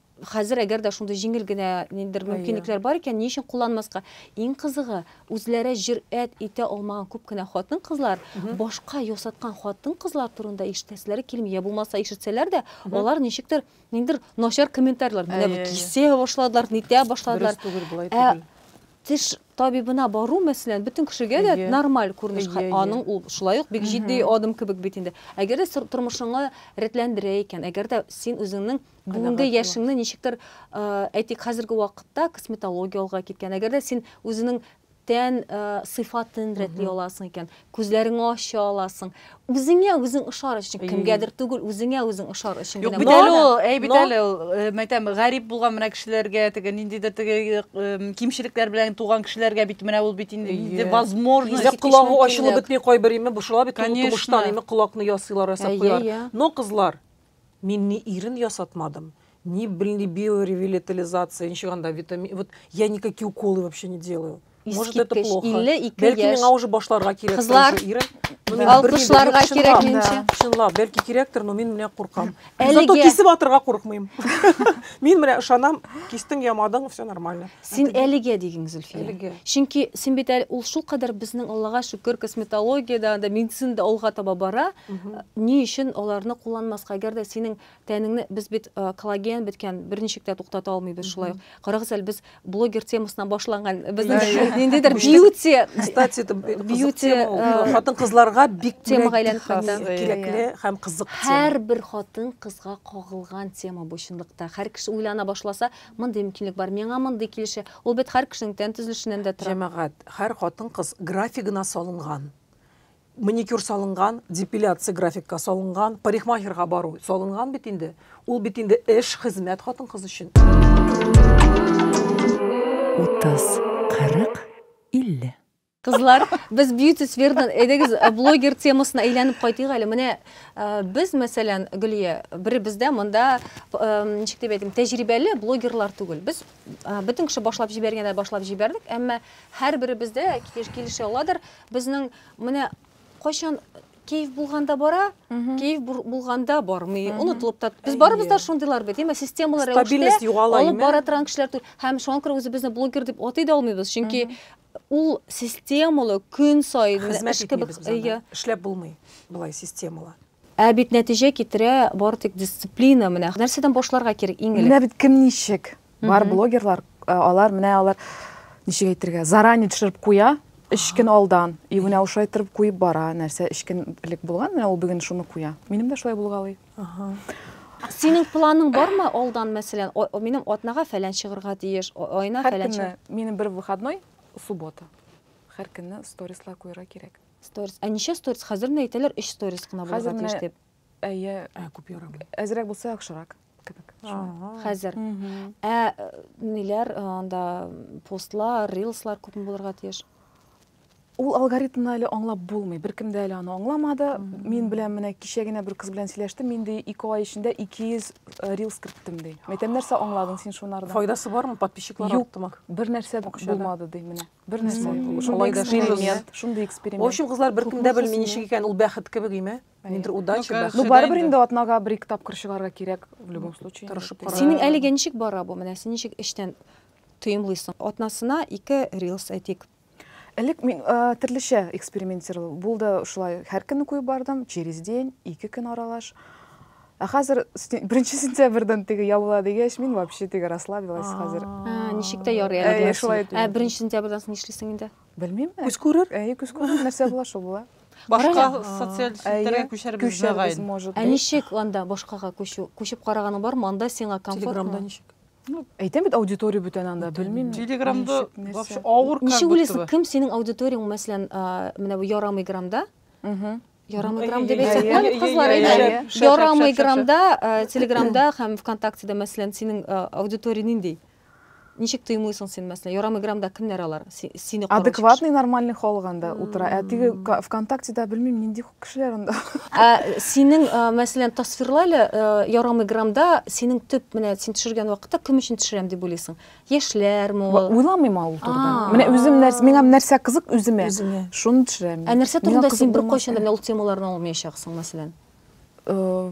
Хәзер әгәр дә шундый җиңел генә ниндидер мөмкинлекләр бар икән, ни өчен кулланмаска? Иң кызыгы, үзләре җөрьәт итә алмаган күп кенә хатын-кызлар башка ясаткан хатын-кызлар турында ишетәселәре килми. Йә булмаса, ишетсәләр дә, алар ничектер, ниндидер начар комментарийлар, менә бу кисә башладылар, нитә башладылар. Дөрес түгел, болай түгел. Ә теш табибына бару, мәсәлән, бөтен кешегә дә нормаль күренеш. Аның ул шулай ук бик җитди адым кебек бит инде. Әгәр дә тормышыңны рәтләндерә икән, әгәр дә син үзеңнең бүгінгі яшіңні нешіктір әйтейік қазіргі уақытта косметология алға кеткен әгер де сен өзінің тән ә, сыйфатын рәтлей аласың икән күзләреңне ача аласың үзеңә үзең ошар өчен кемгәдер түгел үзеңә үзең ошар өчен генә бит әле ул әй бит әле ул мәйтәм гарип булган менә кешеләргә теге ниндидер теге кимчелекләр белән туган кешеләргә бит менә ул бит инде возможность колагы ачылып бетми кайбер име бушала бит тумыштан име колакны ясыйлар ясап куялар но кызлар Мин ни ирен ясатмадым, ни белни биоревилетализация, ничек анда витамин, вот я никакие уколы вообще не делаю. Может это Искиткеч, плохо. 52 Бәлки яшь. миңа уже башларга кирәк. Кызлар, уже ирен. Ну, мин Да. белмим, Алкышларга мин чынлап, кирәк, минемчә. Чынлап, бәлки кирәктер, но мин менә куркам. Әлегә- Зато кисеп атырга куркмыйм. Мин менә ышанам, кистең ямадың, все нормально. Син әлегә диген, Зөлфия. Әлегә. Чөнки син бит әле ул шулкадәр безнең Аллага шөкер, косметологиядә, анда медицинада алга таба бара. Ни өчен аларны кулланмаска? Әгәр дә синең тәнеңне без бит коллаген беткән, берничек тә туктата алмыйбыз шулай ук. Карагыз әле, без блогер темасыннан башланган, безнең ниндидер бьюти. Кстати, бьюти хатын-кызларга бик темага әйләнеп кайта. Кирәкле һәм кызык тема. Һәрбер хатын-кызга кагылган тема бу чынлыкта. Һәр кеше уйлана башласа, Мондый мөмкинлек бар, миңа мондый килешә. Ул бит һәр кешенең тән төзелешеннән дә тора. Җәмәгать, һәр хатын-кыз графигына салынган. Маникюр салынган, депиляция графикка салынган, парикмахерга бару салынган бит инде. Ул бит инде эш, хезмәт хатын-кыз өчен. Утыз, кырык, илле. Кызлар, без beauty сферадан әйдәгез блогер темасына әйләнеп кайтыйк әле. Менә без, мәсәлән, Гөлия, беребез дә монда ничек дип әйтим, тәҗрибәле блогерлар түгел. Без бөтен кеше башлап җибәргәндә башлап җибәрдек, әмма һәрберебез дә килешә аладыр, безнең менә кайчан кәеф булганда бара, кәеф булганда бармый, онытылып та. Без барыбыз да шундыйлар бит, әмма системалы рәвештә алып бара торган кешеләр түгел. Һәм шуңа күрә үзебезне блогер дип атый да алмыйбыз, чөнки Ул системалы көн саен Хезмәт эш кебек ия. Эшләп булмый болай системалы. Ә бит нәтиҗә китерә бары тик дисциплина менә. Нәрсәдән башларга кирәк иң элек? Менә бит кем ничек. Бар блогерлар, алар менә алар ничек әйтергә, заранее төшереп куя, өч көн алдан. И менә ошай торып куеп бара нәрсә өч көн элек булган, менә ул бүген шуны куя. Минем дә шулай булгалый. Синең планың бармы алдан, мәсәлән, минем атнага фәлән чыгырга тиеш, айына фәлән чыгыр. Һәр минем бер выходной, суббота. Һәр көнне сторислар куярга кирәк. Сторис. Ә ничә сторис? Хәзер менә әйтәләр, 3 сторис кына булырга тиеш дип. Әйе, ә күп ярамый. Әзрәк булса яхшырак кебек. Хәзер. Ә ниләр анда постлар, рилслар күпме булырга тиеш? Ул алгоритмны әле аңлап булмый. Беркем дә әле аны аңламады. Мин белән менә кичә генә бер кыз белән сөйләштем. Мин ди 2 ай эчендә 200 э, рилс керттем ди. Мин әйтәм, нәрсә аңладың син шунардан? Файдасы бармы? Подписчиклар Юк, арттымы? бер нәрсә Акчада. булмады ди менә. Бер нәрсә. Шулай юк. да Шундый шундый эксперимент, да. шундый В эксперимент. общем, кызлар беркем дә белми ничек икән, ул бәхет кебек име? Нидер удача, Ну, бәхет. Ну Сида барыбер инде. инде атнага бер-ике тапкыр чыгарга кирәк в любом случае. инде. Тырышып кара. Синең әлегә ничек бара бу? Менә син ничек эчтән тоемлыйсың? Атнасына ике рилс әйтик. Элек мин э, төрлечә экспериментировал булды, шулай һәр көнне куеп бардым, через день, ике көн аралаш. Ә хәзер беренче сентябрьдән теге ябыла дигәч, мин вообще теге расслабилась хәзер. Ә, ничек тә ярый әле. Әйе, шулай Ә беренче сентябрьдән соң нишлисең инде? Белмим. Күз күрер? Әйе, күз күрер, нәрсә була, шул була. Башка социаль челтәргә күчәрбез Күчәрбез, может Ә ничек анда башкага күчү? Күчеп караганың бармы? Анда сиңа комфортмы? Телеграмда ничек? Ну, әйтәм бит, аудитория бүтән анда, белмим. Телеграмда вообще авыр как Ничек уйлыйсың, кем синең аудиторияң, мәсәлән, менә бу ярамый грамда? Ярамый грам дип әйтсәк, кызлар әйтә. Ярамый грамда, Телеграмда һәм ВКонтактеда, мәсәлән, синең аудитория нинди? Ничек тоймыйсың син, мәсәлән, ярамый грамда кемнәр алар? Сине караучы. Адекватный, нормальный халык анда утыра. Ә теге ВКонтактеда белмим, нинди Кешеләр анда. Ә синең, э, мәсәлән, тасвирлай әле, э, ярамый грамда синең төп менә син төшергән вакытта кем өчен төшерәм дип уйлыйсың? Яшьләрме ул? Уйламыйм ул турыда. Менә үзем нәрсә, миңа нәрсә кызык үземә. Шуны төшерәм. Ә нәрсә турында син беркайчан да менә ул темаларны алмыйчаксың, мәсәлән? Э,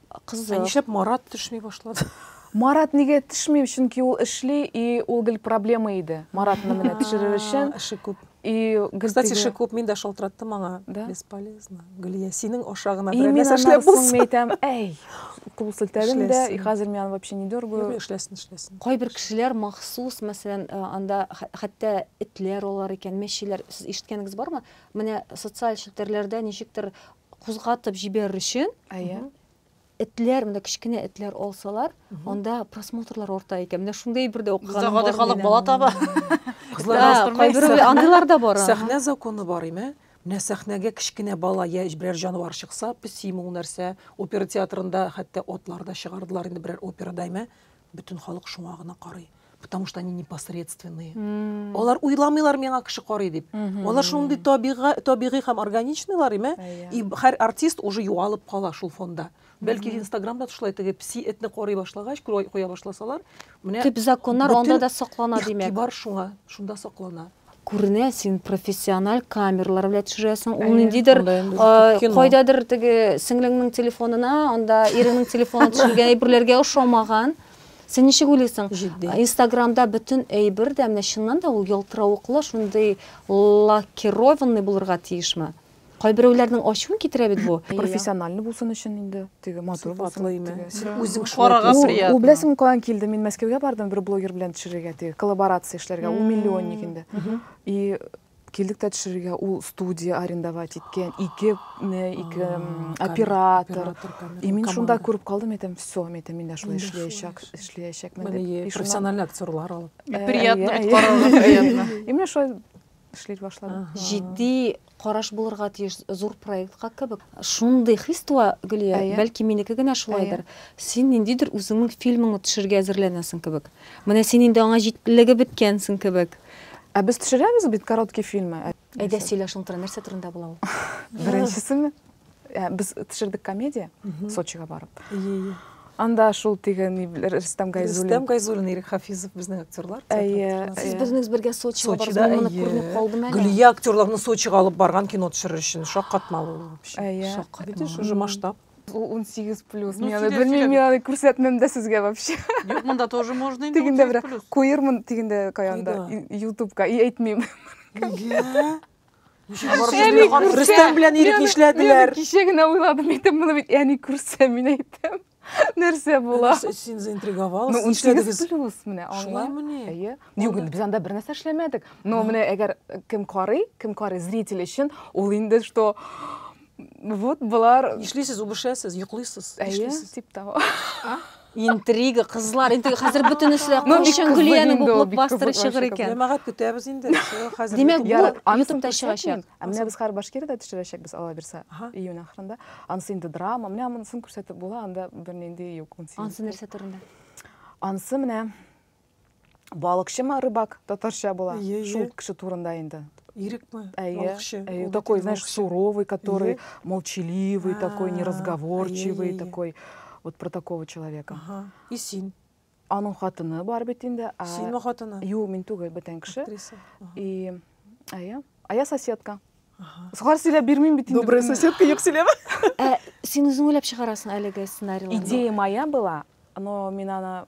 Кызык. Ә нишләп Марат төшми башлады? Марат нигә төшми? Чөнки ул эшли, и ул гел проблема иде. Маратны менә төшерер өчен. Эше күп. И гел Кстати, эше күп, мин дә шалтыраттым аңа. Да? Бесполезно. Гөлия, синең аша гына берәр нәрсә эшләп булсын. Мин әйтәм, әй, кул селтәдем дә, и хәзер мин аны вообще не дергаю. Юк, эшләсен, эшләсен. Кайбер кешеләр махсус, мәсәлән, анда хәтта этләр алар икән, мәчеләр. Сез ишеткәнегез бармы? Менә социаль челтәрләрдә ничектер кузгатып җибәрер өчен этләр менә кечкенә этләр алсалар анда просмотрлар арта икән менә шундый бер дә укыганым гади халык бала таба андыйлар да бар сәхнә законы бар име менә сәхнәгә кечкенә бала я берәр җанвар чыкса песиме ул нәрсә опера театрында хәтта атлар да чыгардылар инде берәр операда име Бөтен халык шуңа гына карый. Потому что они непосредственные. Mm. Алар уйламыйлар миңа кеше карый дип. Mm -hmm. Алар шундый табигый һәм органичныйлар, име? Yeah. И һәр артист уже юалып кала шул фонда. Бәлки mm -hmm. Инстаграмда шулай теге пси этне карый башлагач, куя башласалар, менә төп законнар анда да саклана димәк. Игътибар шуңа, шунда саклана. күренә син профессиональ камерлар белән төшерәсең ул ниндидер кайдадыр теге сеңлеңнең телефонына анда иреңнең телефонына төшергән әйберләргә ошамаган син ничек уйлыйсың инстаграмда бөтен әйбер дә менә чыннан да ул ялтыравыклы шундый лакированный булырга тиешме Кайберәүләрнең ачуын китерә бит бу. Профессиональный булсын өчен инде, теге матур булсын, теге. Син үзең шулай телисең. Ул беләсеңме каян килде? Мин Мәскәүгә бардым бер блогер белән төшерергә, теге коллаборация эшләргә, ул миллионник инде. И килдек тә төшерергә, ул студия арендовать иткән, ике ике оператор. И мин шунда күреп калдым, әйтәм, всё, мин әйтәм, мин дә шулай эшләячәк, эшләячәкмен дип. Профессиональный актерлар алып. Приятно бит, карарга приятно. И менә шулай эшли башлады. Җитди караш булырга тиеш зур проектка кебек. Шундый хис туа, Гөлия, бәлки минеке генә шулайдыр. Син ниндидер үзеңнең фильмыңны төшергә әзерләнәсең кебек. Менә син инде аңа җитлеге беткәнсең кебек. Ә без төшерәбез бит короткий фильмы. Әйдә сөйлә шуның турында, нәрсә турында була ул? Беренчесеме? Ә, без төшердек комедия Сочига барып. Анда шул теге Рөстәм Гайзуллин. Рөстәм Гайзуллин, Ирек Хафизов безнең актерлар. Әйе. Сез безнең бергә Сочига барып, мин моны күреп калдым әле. Гөлия актерларны Сочига алып барган кино төшерер өчен шаккатмалы ул вообще. Әйе. Шаккатмалы. Видишь, уже масштаб. 18 плюс. Ну, Мияны белмим, мияны күрсәтмәм дә сезгә вообще. Юк, монда тоже можно инде. Тигендә бер куермын, тигендә каянда, ютубка, и әйтмим. Нигә? Рөстәм белән Ирек нишләделәр? Кичә генә уйладым, әйтәм, моны бит әни күрсә, мин әйтәм. Нәрсә була? Син заинтриговалась. Ну, унсигез плюс менә аңла. Әйе. Юк, без анда бер нәрсә эшләмәдек. Но менә әгәр кем карый, кем карый зритель өчен, ул инде что вот болар нишлисез үбешәсез йоклыйсыз әйе тип того интрига кызлар интрига хәзер бөтенесе дә кул шәңгөлияне буклып бастырып чыгыр икән җәмәгать көтәбез инде хәзер димәк бу ютубта чыгачак ә менә без хәзер башкирияда төшерәчәкбез алла бирса июнь ахырында анысы инде драма менә монысын күрсәтеп була анда бернинди юк анысы нәрсә турында анысы менә Балыкчы ма, рыбак, татарча була. Ие, Шул ие. кеше турында инде. Ирек ма? Әйе, Балыкчы. әйе, Ул такой, бит знаешь, балыкчы. суровый, который Ие. молчаливый, такой А, неразговорчивый, ай-яй-яй-яй. такой вот про такого человека. Ага. И син. Аның хатыны бар бит инде. а- Син ма хатыны? Юк, мин түгел, бүтән кеше. Актриса. Ага. И, әйе, а я соседка. Ага. Сухар сөйләп бирмим бит инде. Добрая бөтен- соседка юк сөйләп. Ә син үзең уйлап чыгарасың әлеге сценарийларны? Идея моя была, но мин аны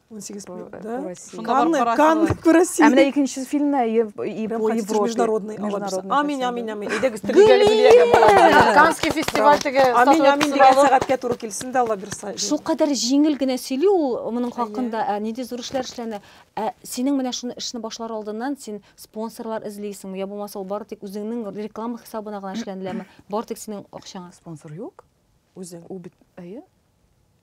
он сегіз по россии канны күрәсез ә менә икенче фильмда международный амин амин амин әйдәгез канский фестиваль теге амин амин деген сәгатькә туры килсен дә алла бирса шулкадәр җиңел генә сөйли ул моның хакында ә нинди зур эшләр эшләнә ә синең менә шуны эшне башлар алдыннан син спонсорлар эзлисеңме я булмаса ул бары тик үзеңнең реклама хисабына гына эшләнеләме бары тик синең акчаңа спонсор юк Үзе, ул бит, әйе.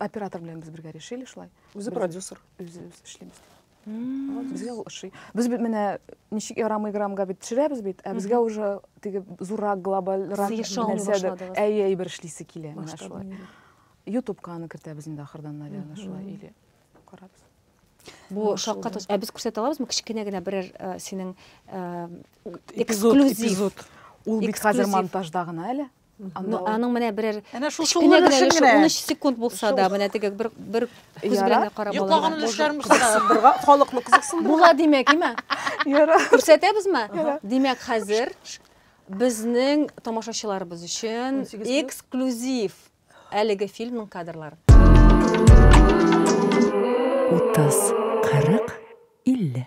Оператор белән без бергә решили шулай. Үзе продюсер. Үзе үз эшлибез. Безгә ул ошый. Без бит менә ничек ярамый граммга бит төшерәбез бит, ә безгә уже теге зуррак глобалрак нәрсәдер. Әйе, әйбер эшлисе килә менә шулай. Ютубка аны кертәбез инде ахырдан, наверное, шулай или карабыз. Бу шакка тос. Ә без күрсәтә алабызмы кечкенә генә берәр синең эксклюзив? Ул бит хәзер монтажда гына әле. Анда ул- Аның менә берәр Әнә шул кечкенә шуллар генә өчен өлеше, генә. 13 секунд булса да, Шул. менә теге бер бер күз Яра. белән дә карап Йоклаган алырга. өлеш- Өлешләр мөсәгә. Кызыксындырырга, халыкны кызыксындырырга. Була димәк, име? Яра. Күрсәтәбезме? Димәк, хәзер безнең тамашачыларыбыз өчен 18 плюс. эксклюзив әлеге фильмның кадрлары. 30, 40, 50.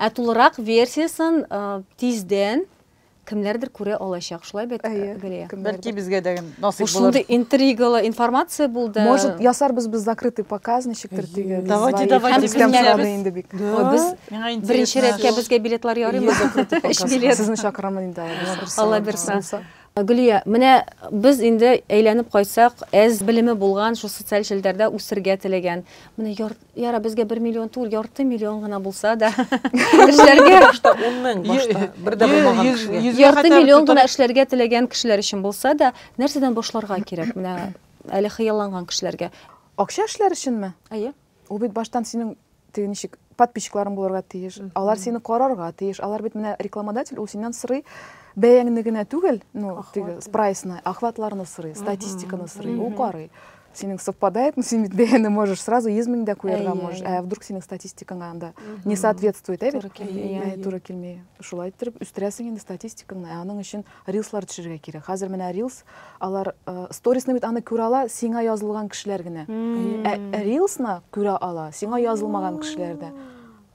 Ә тулырак версиясын тиздән кемнәрдер күрә алачак. Шулай бит, Гөлия? Бәлки безгә дә насыйп булыр. Шундый интригалы информация булды. Может, ясарбыз без закрытый показ, ничектер теге. Давайте, давайте, без Миңа интересно. Беренче рәткә безгә билетлар ярыймы? Өч билет. Сезне чакырамын инде Алла бирса. Гөлия, менә без инде әйләнеп кайтсак, әз белеме булган, шул социаль челтәрдә үсергә теләгән. Менә яр, яра безгә 1 миллион түгел, ярты миллион гына булса да эшләргә башта 10 мең башта бер дә булмаган кешегә. Ярты миллион гына эшләргә теләгән кешеләр өчен булса да, нәрсәдән башларга кирәк? Менә әле хыялланган кешеләргә. Акча эшләр өченме? Әйе. Ул бит баштан синең теге ничек подписчикларың булырга тиеш. Алар сине карарга тиеш. Алар бит менә рекламодатель, ул синнән сорый бәяңне генә түгел, ну, теге прайсны, охватларны сорый, статистиканы сорый, ул карый. Синең совпадает, ну, син бит бәяне можешь сразу 100 мең дә куярга можешь. Ә вдруг синең статистикаңа анда не соответствует, ә бит? Туры килми. Туры килми. Шулай иттереп үстерәсең инде статистикаңны. Ә аның өчен Рилслар төшерергә кирәк. Хәзер менә рилс, алар сторисны бит аны күрә ала, сиңа язылган кешеләр генә. Ә рилсны күрә ала, сиңа язылмаган кешеләр дә.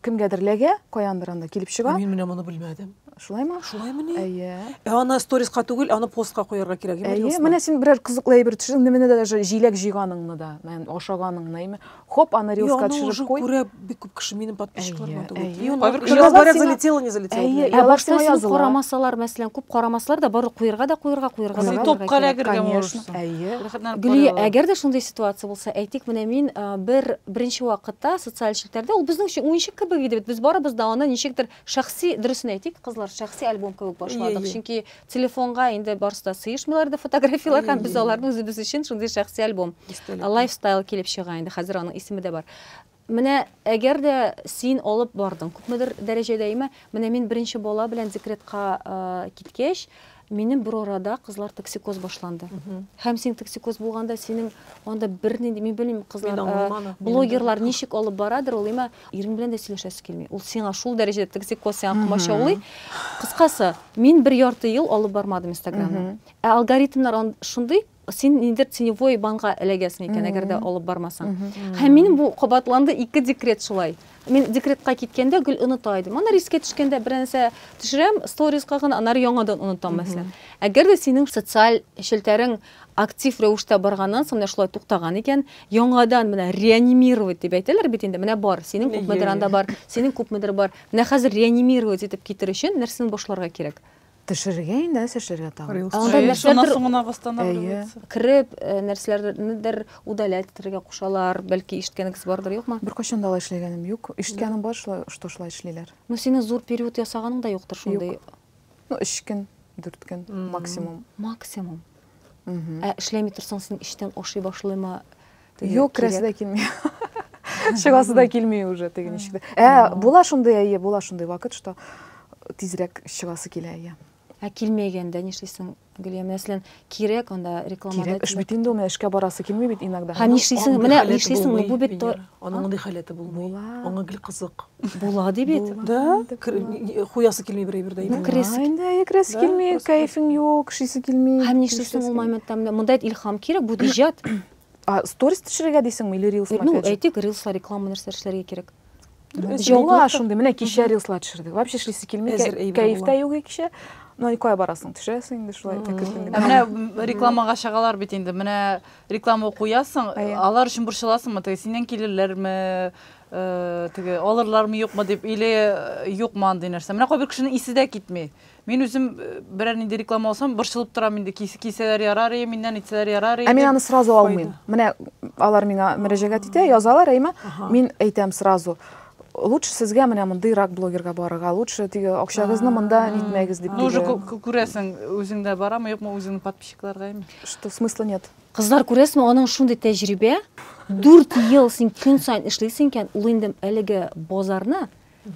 Кемгәдер ләгә, каяндыр анда килеп чыга. Мин менә моны белмәдем. Шулаймы? Шулаймы ни? Әйе. Ә аны сториска түгел, аны постка куярга кирәк. Әйе, менә син берәр кызыклы әйбер төшердең, менә даже җиләк җыйганыңны да, ашаганыңны, Хоп, аны рилска төшереп куй. Күрә бик күп кеше минем подписчикларыма да үтли. Кайбер говорят, залетело, не залетело. Әйе, ә башта сине карамасалар, мәсәлән, күп карамаслар да барып куерга да куерга, куерга да. Топка да кергән булырсың. Әйе. Гөлия, әгәр дә шундый ситуация булса, әйтик, менә мин бер беренче вакытта социаль челтәрдә, ул безнең өчен уенчык кебек иде бит. Без барыбыз да аны ничектер Шәхси, дөресен әйтик, кызлар, шәхси альбом кебек башладык. Ие, ие. Чөнки телефонга инде барысы да сыешмыйлар иде фотографияләр Ие, һәм без ие, ие. аларны үзебез өчен шундый шәхси альбом. Истәлекле. Ә Лайфстайл килеп чыга инде, хәзер аның исеме дә бар. Менә әгәр дә син алып бардың, күпмедер дәрәҗәдә, әйме, менә мин беренче бала белән декретка киткәч, Минем бер арада кызлар токсикоз башланды. Һәм син токсикоз булганда синең анда бернинди, мин белмим, кызлар, э, блогерлар ничек алып барадыр, ул имә ирең белән дә сөйләшәсе килми. Ул сиңа шул дәрәҗәдә токсикоз сиңа комачаулый. Кыскасы, мин бер ярты ел алып бармадым Инстаграмны. Ә алгоритмнар шундый, Син нидер теневой банга эләгәсең икән, әгәр дә алып бармасаң. Һәм минем бу кабатланды ике декрет шулай. Мин декретка киткәндә гел оныта идем. Ана рискә төшкәндә бер нәрсә төшерәм, сторизга гына, аннары яңадан онытам, мәсәлән. Әгәр дә синең социаль челтәрең актив рәвештә барганнан соң менә шулай туктаган икән, яңадан менә реанимировать дип әйтәләр бит инде, менә бар, синең күпмедер анда бар, синең күпмедер бар. Менә хәзер реанимировать итеп китер өчен нәрсәдән башларга кирәк? Төшерергә инде, нәрсә эшләргә тагын? Анда нәрсәдер соң гына восстанавливается. Кереп, нәрсәләрнедер удалять итәргә кушалар, бәлки ишеткәнегез бардыр, юкмы? Беркайчан да алай эшләгәнем юк. Ишеткәнем бар, шулай, что шулай эшлиләр. Ну, синең зур период ясаганың да юктыр шундый. Юк. Ну, 3 көн, 4 көн максимум. Максимум. Ә эшләми торсаң, син эчтән ашый башлыймы? Юк, керәсе дә килми. Чыгасы да килми уже теге ничек тә. Ә, була шундый, әйе, була шундый вакыт, что тизрәк чыгасы килә, әйе. Ә килмәгәндә нишлисең, Гөлия? Мәсәлән, кирәк анда рекламада. Кирәк эш бит инде ул, эшкә барасы килми бит иногда. Һәм нишлисең, менә нишлисең, бу бит тор. Аның мондый халәте булмый. Аңа гел кызык. Була ди бит. Да, хуясы килми бер әйбер дә. Бу керәсе. Инде керәсе килми, кайфың юк, шисе килми. Һәм нишлисең ул моментта? Монда илһам кирәк, бу иҗат. А сторис төшерергә дисеңме или рилс Ну, макияжы? әйтик, рилслар, реклама нәрсә эшләргә кирәк. Дөрес, Җылы була булып та- шундый, менә кичә рилслар төшердек. Вообще эшлисе килми, Әзер кә- әйбер кәеф була. тә юк кичә. Но никая барасың, төшерәсең инде шулай. так иркен Ә генә. менә м, рекламага чыгалар бит инде. Менә реклама куясың, Әйе. алар өчен борчыласыңмы? Теге синнән килерләрме? э, Теге алырлармы юкмы дип или э, юкмы андый нәрсә. Менә кайбер кешенең исе дә китми. Мин үзем э, берәр нинди реклама алсам, борчылып торам инде. Кис, кисәләр ярар ие, миннән итсәләр ярар ие. Ә мин аны сразу алмыйм. Менә алар миңа мөрәҗәгать итә, язалар, әйме? Мин әйтәм сразу. Лучше сезгә менә мондый рак блогерга барырга, лучше теге акчагызны монда нитмәгез дип. Ну уже күрәсең, үзеңдә барамы, юкмы үзеңнең подписчикларга ими. Что смысла нет? Кызлар күрәсме, аның шундый тәҗрибә, 4 ел син көн сайын эшлисең икән, ул инде әлеге базарны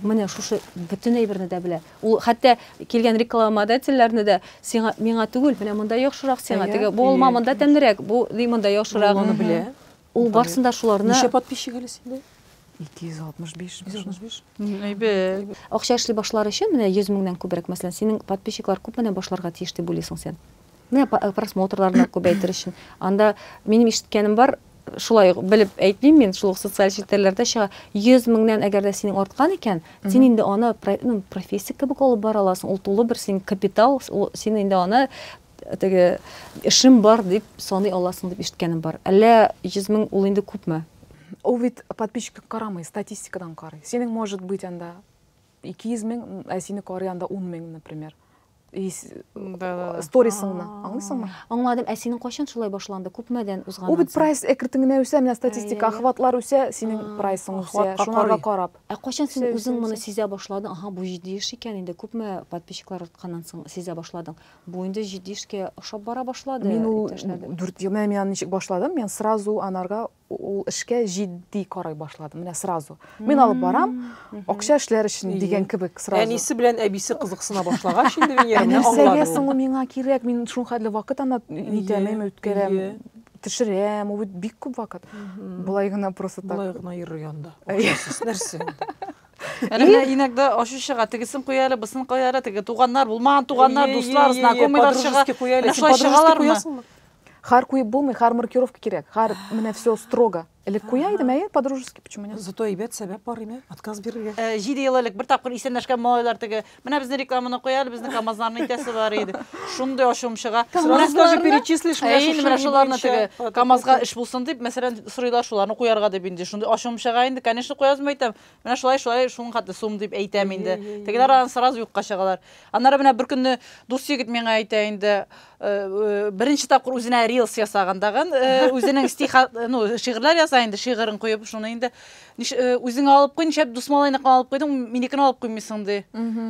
Менә шушы бөтен әйберне дә белә. Ул хәтта килгән рекламодательләрне дә сиңа миңа түгел, менә монда яхшырак сиңа, теге бу алма монда тәмлерәк, бу ди монда яхшырак. Ул аны белә. Ул барсын да шуларны. Ничә подписчик әле синдә? 265. 265. Әйбәт. Акча эшли башлар өчен менә 100 меңнән күбрәк, мәсәлән, синең подписчиклар күпмәдән башларга тиеш дип уйлыйсың син? Менә э, просмотрларны күбәйтер өчен. Анда минем ишеткәнем бар, шулай ук белеп әйтмим мин, шул ук социаль челтәрләрдә чыга. 100 меңнән әгәр дә синең арткан икән, син инде аны ну, профессия кебек алып бара аласың. Ул тулы бер син капитал, син инде аны теге эшем бар дип саный аласың дип ишеткәнем бар. Әллә 100 мең ул инде күпме? Ул бит подписчиктан карамый, статистикадан карый. Синең может быть анда Ике йөз мең, ә сине карый анда ун мең, например. Сторисыңны, аңлыйсыңмы? Аңладым, ә синең кайчан шулай башланды? Күпмәдән узган? Ул бит прайс экритең генә үсә, менә статистика, охватлар үсә, синең прайсың үсә, шуларга карап. Ә кайчан син үзең моны сизә башладың? Аһа, бу җитди эш икән инде. Күпме подписчиклар артканнан соң сизә башладың? Бу инде җитди эшкә ошап бара башлады. Мин ул дүрт ел, менә мин аны ничек башладым, мин сразу анарга Ул эшкә җитди карай башлады, менә сразу. Мин алып барам, акча эшләр өчен дигән кебек сразу. Әнисе белән әбисе кызыксына башлагач инде Венера менә аңлады. Нәрсәгә соң ул миңа кирәк? Мин шул хәтле вакыт анда нитәмим, үткәрәм, төшерәм, ул бит бик күп вакыт. Болай гына просто так. Болай гына йөрер янда. Акчасыз нәрсә инде. Әнә менә инәкдә ачу чыга, тегесен куя әле, бусын куя әле, теге туганнар, булмаган туганнар, дуслар, знакомыйлар чыга. Менә шулай чыгалармы? Хар куеп булмый, хар маркировка кирәк. Хар менә все строго. Элек куя идем, әйе, по-дружески, почему нет? Зато әйбәт сәбәп бар име? Отказ бирергә. Э, җиде ел элек бер тапкыр исәнләшкән малайлар теге, менә безне рекламаны куя әле, безне КАМАЗларны итәсе бар иде. Шундый ачуым чыга. Сразу даже перечислишь менә шушы менә шуларны теге КАМАЗга эш булсын дип, мәсәлән, сорыйлар шуларны куярга дип инде. Шундый ачуым чыга инде. Конечно, куязмы әйтәм. Менә шулай шулай шуның хәтле сум дип әйтәм инде. Тегеләр аны сразу юкка чыгалар. Аннары менә бер көнне дус егет миңа әйтә инде, э, э, беренче тапкыр үзенә рилс ясаган тагын, э, үзенең стих, ну, шигырьләр яза инде, шигырен куеп, шуны инде үзең алып куй, нишләп дус малайны алып куйдың, минекен алып куймыйсың ди.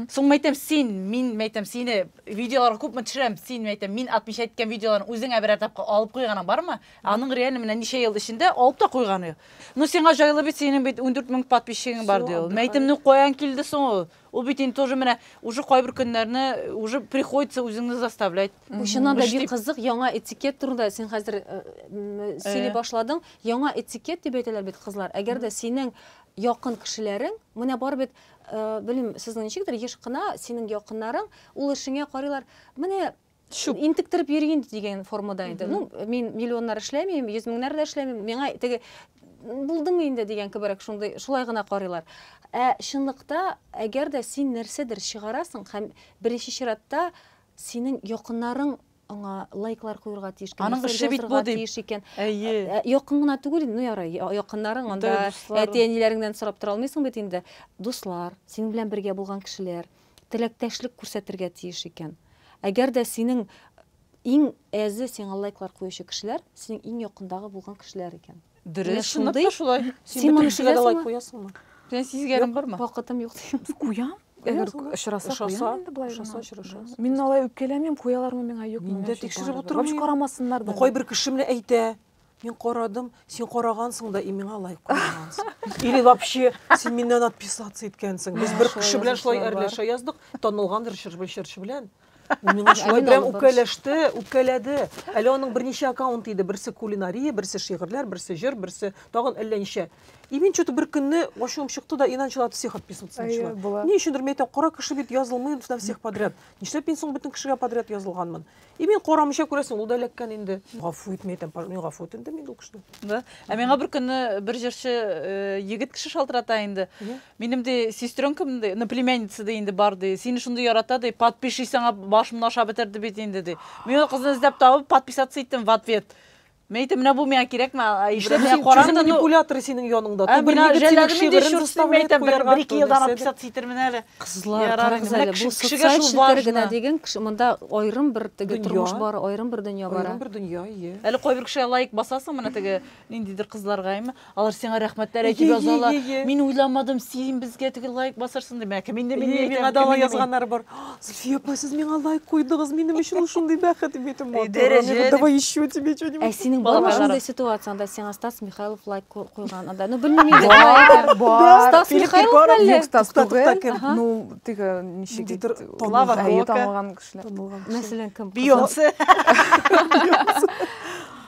Соң мәйтәм, син, мин мәйтәм, сине видеолар күпме төшерәм, син мәйтәм, мин атмыйча әйткән видеоларны үзеңә берәр тапкыр алып куйганың бармы? Аның реально менә ничә ел эчендә алып та куйганы. Ну сиңа җайлы бит, синең бит ундүрт мең подписчигың бар, ди ул. Мин әйтем, ну каян килде соң ул? Ул бит инде тоже менә уже кайбер көннәрне уже приходится үзеңне заставлять. Бу чыннан да бик кызык, яңа этикет турында син хәзер сөйли башладың. Яңа этикет дип әйтәләр бит кызлар. Әгәр дә синең якын кешеләрең, менә бар бит, белмим, сезнең ничектер, еш кына синең якыннарың ул эшеңә карыйлар. Менә чүп интектереп йөри инде дигән формада инде ну мин миллионнар эшләмим йөз меңнәр дә эшләмим миңа теге булдымы инде дигән кеберәк шундый шулай гына карыйлар ә чынлыкта әгәр дә син нәрсәдер чыгарасың һәм беренче чиратта синең якыннарың аңа лайклар куерга тиеш икән аның эше бит бу дип тиеш икән әйе ә, ә, якын гына түгел ну ярый якыннарың анда әти әниләреңнән сорап тора алмыйсың бит инде дуслар синең белән бергә булган кешеләр Теләктәшлек күрсәтергә тиеш икән. Әгәр дә синең иң әзе сиңа лайклар куючы кешеләр, синең иң якындагы булган кешеләр икән. Дөрес, чынлап та шулай. Син моны сизәсеңме? Синең сизгәнең бармы? Вакытым юк дигән. Куям. Әгәр очраса, куям инде болай гына. Очраса, Мин алай үпкәләмим, куялармы миңа, юкмы. Мин дә тикшереп утырмыйм. Карамасыннар да. Кайбер кеше менә әйтә, Мин карадым, син карагансың да, и миңа лайк куймагансың. Или вообще син миннән отписаться иткәнсең. Без бер кеше белән шулай әрләшә яздык, танылган режиссер Бәшәрче белән. Ул миңа шулай белән үкәләште, үкәләде. Әле аның берничә аккаунт иде, берсе кулинария, берсе шигырьләр, берсе җыр, берсе тагын әллә ничә. И мин что-то бер көнне ачуым чыкты да, и начала всех отписываться начала. Ни өчендер мин әйтәм, кара кеше бит язылмый на всех подряд. Нишләп мин соң бөтен кешегә подряд язылганмын? И мин карамыйча күрәсең, ул да эләккән инде. Гафу ит, мин әйтәм, мин гафу ит инде мин ул кешене. Да. Ә миңа бер көнне бер җырчы э, егет кеше шалтырата инде. Минем ди сестренкам ди, ну племянница ди инде бар ди. Сине шундый ярата ди, подпишись аңа, башымны ашап бетерде бит инде ди. Мин ул кызны эзләп табып, подписаться иттем в ответ. Мин әйтәм, менә бу миңа кирәкме, ә Нишләп Ибраһимгә син каран чүрү да, ну, манипуляторы синең яныңда? Ә, Ту бер миңа егет синең жәлләдем инде, шигырен чур син, заставлять әйтәм, бер, куярга, бер ике ту елдан нәрсәдер. отписаться итәрмен әле. Кызлар, Ярар карагыз инде, менә әле, кеше- бу кешегә социаль шул челтәр генә важно. диген, кеше- монда аерым бер теге Дөнья. тормыш бар, аерым бер дөнья бара. Аерым бер дөнья, ие. Әле кайбер кешегә лайк басасың, менә теге ниндидер кызларга, әйме? Алар сиңа рәхмәтләр әйтеп язалар. Мин уйламадым, син безгә теге лайк басарсың дип. Әкә мин дә мин дә миңа да алай язганнар бар. Зөлфия апа, сез миңа лайк куйдыгыз, минем өчен ул шундый бәхет дип әйтеп матур. Давай еще тебе что-нибудь. Ә синең бармы шундый ситуацияңдә сиңа Стас Михайлов лайк куйган анда? Ну белмим инде. Бар. Стас Михайлов әллә? Стас түгел. Ну теге ничек ит? Лава Кока. Танылган кешеләр. Мәсәлән, кем? Бейонсе.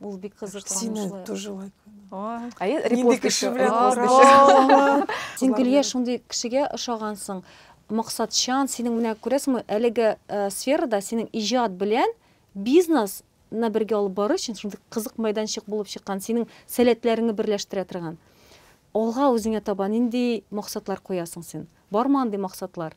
Ул бик кызыксынычлы. тоже лайк. Әйе, репост кеше белән. Син Гөлия шундый кешегә ошагансың. Максатчан, синең менә күрәсеңме, әлеге э, сферада синең иҗат белән бизнес на бергә алып бару өчен шундый кызык мәйданчык булып чыккан, синең сәләтләреңне берләштерә торган. Алга үзеңә таба нинди максатлар куясың син? Бармы андый максатлар?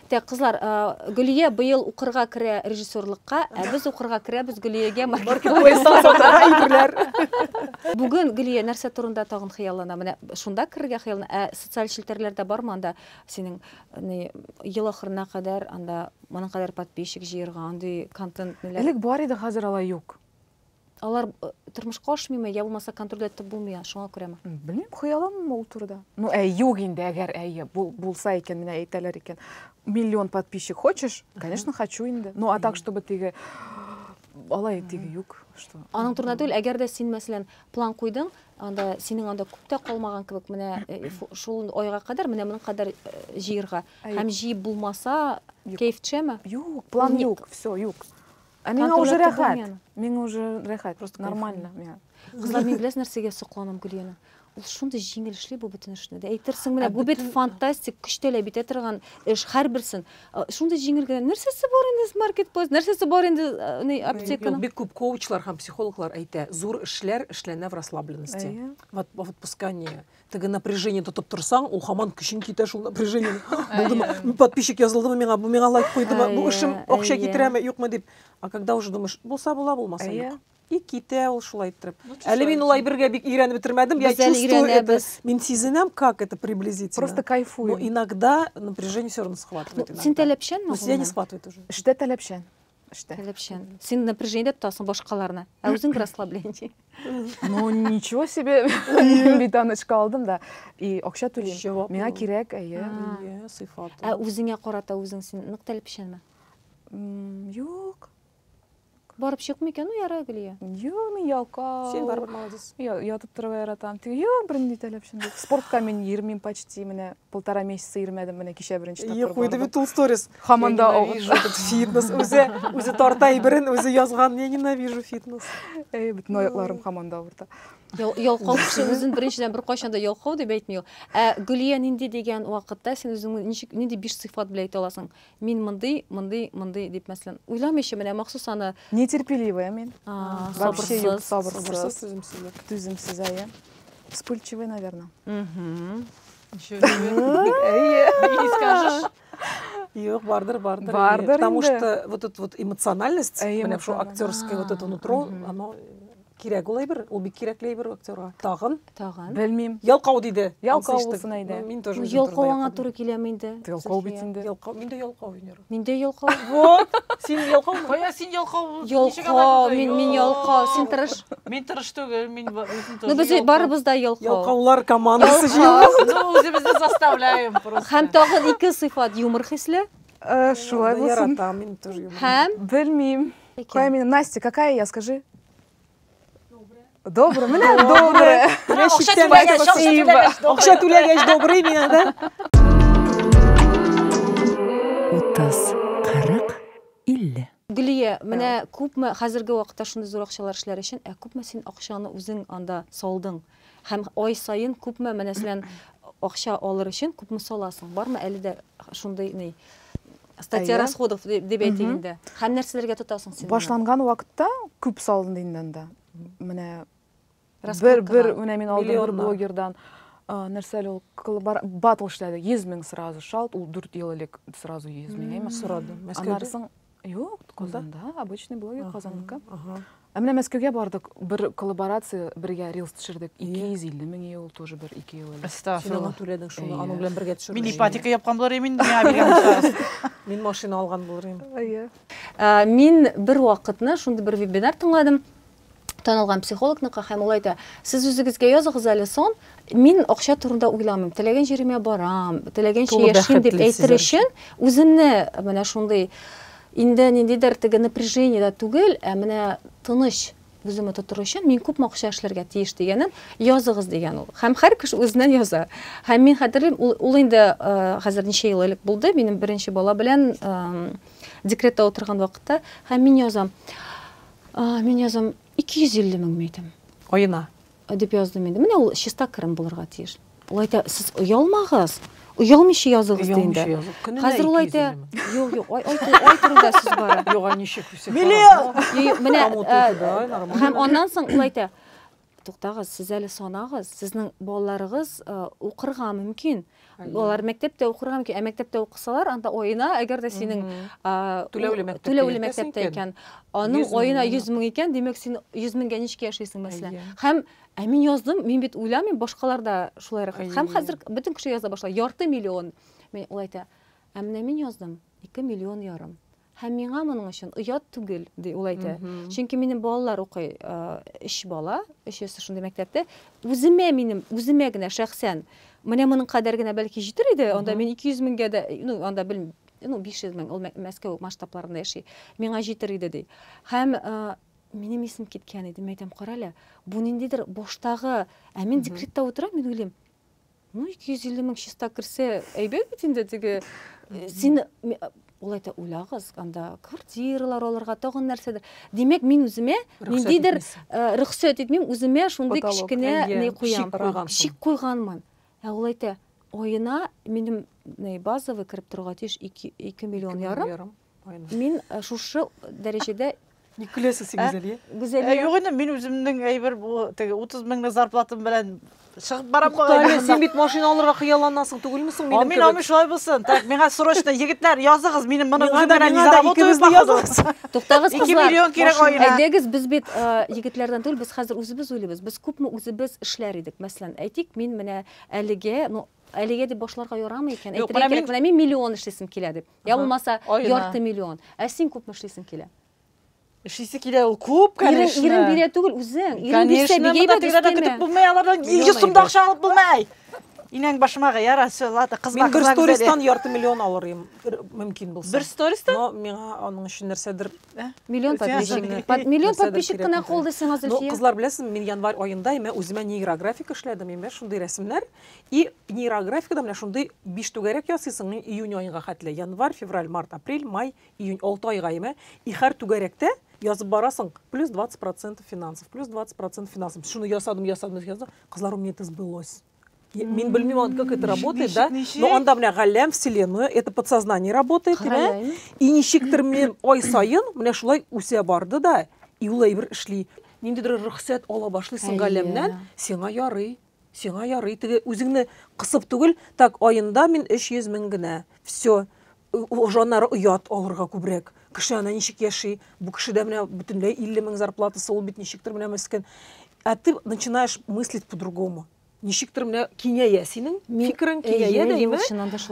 Так, кызлар, а, Гөлия быел укырга керә режиссерлыкка, ә без укырга керәбез Гөлиягә маркетплейс. Бүген Гөлия нәрсә турында тагын хыяллана? Менә шунда керергә хыяллана. Ә социаль челтәрләрдә бармы анда синең ни ел ахырына кадәр анда моның кадәр подписчик җыерга, андый контент ниләр? Элек бар иде, хәзер алай юк. Алар э, тормышка ашмыймы, я булмаса контроль итеп булмый, шуңа күрәме? Белмим, хыялыммы ул турыда. Ну, ә юк инде, әгәр әйе, бул, булса икән, менә әйтәләр икән. Миллион подписчик хочешь? Конечно, хочу инде. Ну, а так, чтобы теге алай теге юк, что. Аның турында түгел, әгәр дә син, мәсәлән, план куйдың, анда синең анда күп тә калмаган кебек, менә э, фу- шул айга кадәр, менә моның кадәр э, җыерга. Әй. Һәм җыеп булмаса, Юк. кәеф төшәме? Юк, план Ник? юк, все, юк. Ә миңа уже рәхәт. Миңа уже рәхәт. Просто нормально миңа. Кызлар, мин беләсез нәрсәгә сокланам Гөлияның? Ул шундый җиңел эшли бу бөтен эшне. Дә әйтерсең менә бу бит фантастик көч таләп итә торган эш һәрберсен. Шундый җиңел генә. Нәрсәсе бар инде маркетплейс? Нәрсәсе бар инде ни аптеканың? Бик күп коучлар һәм психологлар әйтә, зур эшләр эшләнә в расслабленности. В отпускании. теге напряжение тотып торсаң ул хаман көчең китә шул напряжение булдымы подписчик язылдымы миңа бу миңа лайк куйдымы бу эшем акча китерәме юкмы дип а когда уже думаешь булса була булмаса юк и китә ул шулай иттереп әле мин ул әйбергә бик өйрәнеп бетермәдем я чувствую это мин сизенәм как это приблизительно просто кайфую иногда напряжение все равно схватывает син таләпчәнме я не схватывает уже эштә таләпчән эштә. Таләпчән. Син напряжение дә тотасың башкаларны, ә үзең бер расслабление. Ну, ничего себе. Мин бит анычка алдым да. И акча түлим. Миңа кирәк, әйе. Әйе, сыйфат. Ә үзеңә карата үзең син нык таләпчәнме? Юк. Барып чыкмый икән ул яра Гөлия. Юк, мин ялкау. Син барып молодец. Ятып торырга яратам. Юк, бернинди таләпчән юк. Спортка мин йөрмим почти менә. полтора месяца йөрмәдем менә кичә беренче тапкыр бардым. Куйды бит ул сторис. Хаман да фитнес үзе үзе тарта әйберен үзе язган. Я ненавижу фитнес. Эй, бөтен аякларым хаман да авырта. Ялкау кеше үзен беренчедән беркайчан да ялкау дип әйтми ул. Ә Гөлия нинди дигән вакытта син үзеңне ничек нинди биш сыйфат белән әйтә аласың? Мин мондый, мондый, мондый дип мәсәлән, уйламыйча менә махсус аны Нетерпеливая мин. А, Вообще юк, сабырсыз. сабырсыз. Сабырсыз, түземсезлек. Түземсез, әйе. Вспыльчивый, наверное. Мгм. Еще Әйе. не скажешь. Юк, бардыр, бардыр. Бардыр Потому инде. что вот эта вот эмоциональность, Әйе, менә шул эмоциональ. актерское вот это нутро, Мгм. оно Кирәк ул әйбер, ул бик кирәкле әйбер актерга. Тагын? Тагын. Белмим. Ялкау диде. Ялкау булсын әйдә. Мин тоже. Ялкау аңа туры киләме инде? Ялкау бит инде. Ялкау, мин дә ялкау винер. Мин дә ялкау. Вот. Син ялкау. Кая син ялкау? Ялкау, мин мин ялкау. Син тырыш. Мин тырыш түгел, мин үзем тоже. Ну без барыбыз да ялкау. Ялкаулар командасы җыелды. Ну үзебезне заставляем просто. Һәм тагын ике сыйфат юмор хисле. Э, шулай булсын. Яратам, мин тоже юмор. Һәм? Белмим. Какая именно? Настя, какая я, скажи? Добрый. Менә добрый. Акча түләгәч, акча түләгәч, добрый. Акча түләгәч, добрый менә, да? Утыз, кырык, илле. Гөлия, менә күпме хәзерге вакытта шундый зур акчалар эшләр өчен, ә күпме син акчаны үзең анда салдың? Һәм ай саен күпме менә синен акча алыр өчен күпме саласың? Бармы әле дә шундый ни статья расходов дип әйтик инде. Һәм нәрсәләргә тотасың син? Башланган вакытта күп салынды инде анда. Менә бер бер менә мин алдым бер блогердан нәрсә әле ул батл эшләде 100 мең сразу шалт ул 4 ел элек сразу 100 мең әйме сорады мәскәүдә Юк, Казанда, обычный блогер Казанныкы. Ә менә Мәскәүгә бардык, бер коллаборация бергә рилс төшердек. 250 мең ел тоже бер 2 ел элек. Син аны түләдең шуны, аның белән бергә төшердең. Мин ипотека япкан булыр идем инде, миңа биргән булсагыз. Мин машина алган булыр идем. Әйе. Мин бер вакытны шундый бер вебинар тыңладым. танылган психологныкы һәм ул әйтә, сез үзегезгә языгыз әле сон, мин акча турында уйламыйм, теләгән җиремә барам, теләгәнчә яшим дип әйтер өчен, үземне менә шундый инде ниндидер теге напряжение да түгел, ә менә тыныч үземне тотыр өчен мин күпме акча эшләргә тиеш дигәнен языгыз дигән ул. Һәм һәр кеше үзеннән яза. Һәм мин хәтерлим, ул, ул инде хәзер ничә ел элек булды, минем беренче бала белән декретта утырган вакытта, һәм мин язам. А, мин язам, 250 мең мәйтәм. Аена. Дип яздым инде. Менә ул чиста керем булырга тиеш. Ул әйтә, сез оялмагыз, оялмыйча языгыз ди инде. Хәзер ул әйтә, юк, юк, ай, ай, ай турында сүз бара. Юк, ничек үсеп. Миллион! Менә, һәм аннан соң ул әйтә, Туктагыз, сез әле санагыз, сезнең балаларыгыз укырга мөмкин. Алар мәктәптә укырга мөмкин, ә мәктәптә укысалар, анда оена, әгәр дә синең түләүле мәктәптә, түләүле мәктәптә икән, аның оена 100 мең икән, димәк син 100 меңгә ничек яшисең мәсәлән? Һәм ә мин яздым, мин бит уйламыйм, башкалар да шулай рәхәт. Һәм хәзер бөтен кеше яза башлый, ярты миллион. Мин ул әйтә, ә менә мин яздым 2 миллион ярым. Һәм миңа моның өчен оят түгел, ди ул әйтә. Чөнки минем балалар укый, өч бала, өчесе шундый мәктәптә. Үземә минем, үземә генә шәхсән, менә моның кадәр генә бәлки җитер иде, анда мин 200 меңгә дә, ну, анда бел, ну, 500 мең, ул Мәскәү масштабларында яши, миңа җитер иде, ди. Һәм минем исем киткән иде, мин әйтәм, карале, бу ниндидер баштагы, ә мин декретта утырам, мин уйлыйм, Ну, 250 мең чиста керсә, әйбәт бит инде теге. Э, син ул әйтә, уйлагыз, анда квартиралар алырга, тагын нәрсәдер. Димәк, мин үземә ниндидер э, рөхсәт итмим, үземә шундый кечкенә ни куям, шик куйганмын. Ә ул әйтә, аена минем базовый кереп торырга тиеш 2 миллион ярым. Мин шушы дәрәҗәдә Ник көләсез син Гүзәлия? Гүзәлия. Юк инде, мин үземнең әйбер бу теге 30 меңлек зарплатам белән чыгып барам бу. Тәле, син бит машина алырга хыялланасың түгелме соң минем кебек? Мин аны шулай булсын. Так, миңа срочно егетләр языгыз, минем моны үзем белән низа работа үзем языгыз. Туктагыз, кызлар. 2 миллион кирәк аена. Әйдәгез, без бит егетләрдән түгел, без хәзер үзебез уйлыйбыз. Без күпме үзебез эшләр идек. Мәсәлән, әйтик, мин менә әлегә, ну, әлегә дип башларга ярамый икән. Әйтергә кирәк, менә мин миллион эшлисем килә дип. Я булмаса ярты миллион. Ә син күпме эшлисең килә? Эшлисе килә ул күп, конечно. Ирен, ирен бирә түгел үзең. Ирен бирсә бигә бит. Конечно, монда көтеп булмый, алардан 100 сумда акча алып булмый. Инәң башыма гыяра, все, ладно, кызга. Мин бер стористан ярты миллион алыр идем, мөмкин булса. Бер стористан? Но миңа аның өчен нәрсәдер э? миллион подписчик. Под миллион подписчик кына калды сиңа Зөлфия. Ну, кызлар беләсезме, мин январь аенда имә үземә нейрографик эшләдем, имә шундый рәсемнәр. И нейрографикада менә шундый биш түгәрәк ясыйсың мин июнь аенга хәтле. Январь, февраль, март, апрель, май, июнь, алты айга име. И һәр түгәрәктә язып барасың, плюс 20 процентов финансов, плюс 20 процентов финансов. Шуны ясадым, ясадым, ясадым. Кызлар, у меня это сбылось. Мин белмим, как это работает, да? Но анда менә галәм, вселенную, это подсознание работает, димә. И ничектер мен ай сайын менә шулай үсә барды да, и ул әйбер эшли. Ниндидер рөхсәт ала башлыйсың галәмнән, сиңа ярый. Сиңа ярый теге үзеңне кысып түгел, так аенда мин 300 мең генә. Всё. Уже аннары оят алырга күбрәк. Кеше ана ничек яши? Бу кешедә менә бөтенләй 50 мең зарплатасы, ул бит ничектер менә мескен. Ә ты начинаешь мыслить по-другому. Ничектер менә киңәя синең фикерең, киңәя дә име?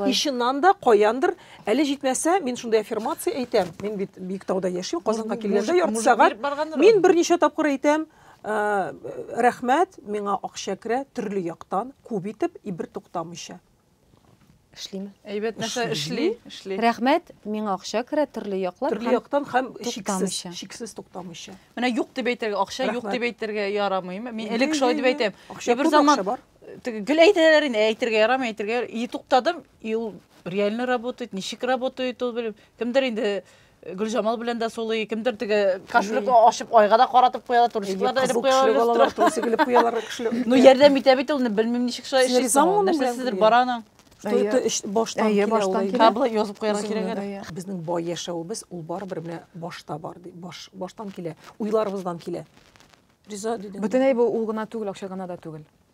И чыннан да каяндыр, әле җитмәсә, мин шундый аффирмация әйтәм, мин бит Биектауда яшим, Казанга килгәндә ярты сәгать, мин берничә тапкыр әйтәм, Ә, рәхмәт, миңа акча керә төрле яктан, күп итеп и бер туктамыйча. Эшлиме? Әйбәт нәрсә эшли, эшли. Рәхмәт, миңа акча керә төрле яклап һәм Төрле яктан һәм чиксез, чиксез туктамыйча. Менә юк дип әйтергә, акча юк дип әйтергә ярамый. Мин элек шулай дип әйтәм. Акча күп, акча бар. Теге гел әйтәләр инде, әйтергә ярамый, әйтергә. И туктадым, и ул реально работает, ничек работает ул белмим. Кемдер инде Гөлҗамал белән дә сулый, кемдер теге кошелек ачып айга да каратып куялар, турчиклар да элеп куялар. Турчик элеп куялар кошелек. Ну ярдәм итә бит ул, белмим ничек шулай эшли. Нәрсәсидер бар аның. Что это баштан килә ул. Кабла язып куярга кирәк әле. Безнең бай яшәвебез ул барыбер менә башта бар ди. Баш баштан килә, уйларыбыздан килә. Риза дидем. Бөтенләй бу ул гына түгел, акча гына да түгел.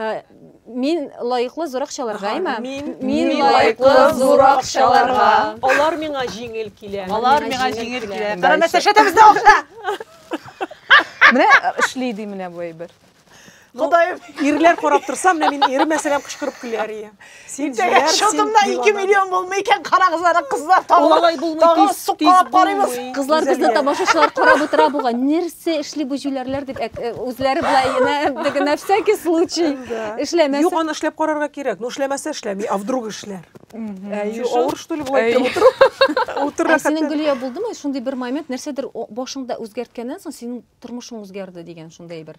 Ә, Мин лаеклы зур акчаларга, Ага, әйме? мин- Мин Мин лаеклы зур акчаларга. Алар миңа җиңел килә. Алар миңа җиңел килә. Кара Дальше. мәсәшә тәбездә акча. Менә э, эшли ди менә бу әйбер. Ходаем. Ирләр карап торса, менә мин ирем мәсәлән кычкырып көләр ием. Син җыяр, шотымда 2 миллион булмый икән, карагыз ана кызлар тагы. Тагы суккалап карыйбыз. Кызлар безне тамашачылар карап утыра буга. Нәрсә эшли бу җүләрләр дип э, үзләре болай на всякий случай эшләмәсен. Юк, аны эшләп карарга кирәк. Ну эшләмәсә эшләми, а вдруг эшләр. Авыр что ли болай утыру? Утыра. Синең Гөлия булдымы? Шундый бер момент нәрсәдер башыңда үзгәрткәннән соң синең тормышың үзгәрде дигән шундый бер.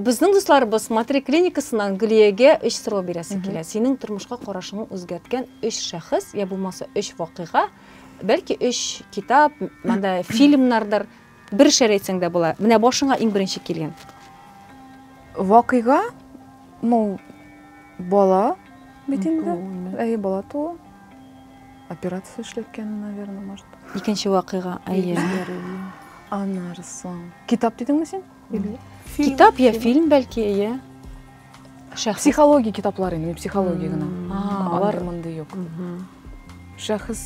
Безнең дусларыбыз Матри клиникасыннан Гөлиягә өч сорау бирәсе килә. Синең тормышка карашыңны үзгәрткән өч шәхес, я булмаса өч вакыйга, бәлки өч китап, монда фильмнардыр, бер шәр әйтсәң дә була. Менә башыңа иң беренче килгән. Вакыйга, ну, бала бит инде. Әйе, бала туу. Операция эшләткәне, наверное, может. Икенче вакыйга, әйе. Аннары соң. Китап дидеңме син? Китап я фильм бәлки, иә. Шәхес. Психология китаплары, мені психология гына. Алар мынды юк. Шәхес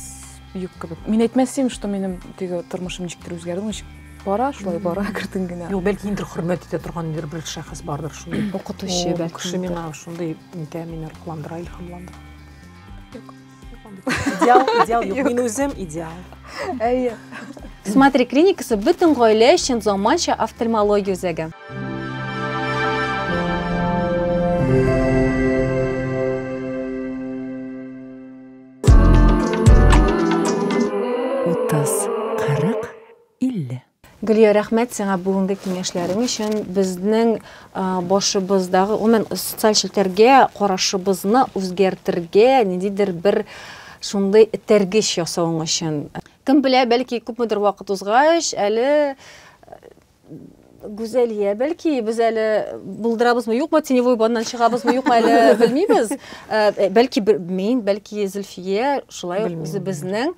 юк кебек. Мин әйтмәсем, что менің теге тормышым ничектер үзгәрде, ничек бара, шулай бара кертен генә. Юк, бәлки инде хөрмәт итә торган бер бер шәхес бардыр шуны. Укытучы бәлки. Кеше миңа шундый нитә, мине рухландыра, илһамландыра. идеал идеал юк мин үзем идеал әйе смотри клиникасы бөтен гаилә өчен заманча офтальмология үзәге утыз кырык илле Гөлия, рәхмәт сиңа бүгенге киңәшләрең өчен. Безнең башыбыздагы, гомумән, социаль челтәргә карашыбызны үзгәртергә ниндидер бер шундый этәргеч ясавың өчен. Кем белә, бәлки күпмедер вакыт узгач, әле Гүзәлия, бәлки без әле булдырабызмы, юкмы, теневой баннан чыгабызмы, юкмы әле белмибез. Бәлки мин, бәлки Зөлфия шулай ук үзебезнең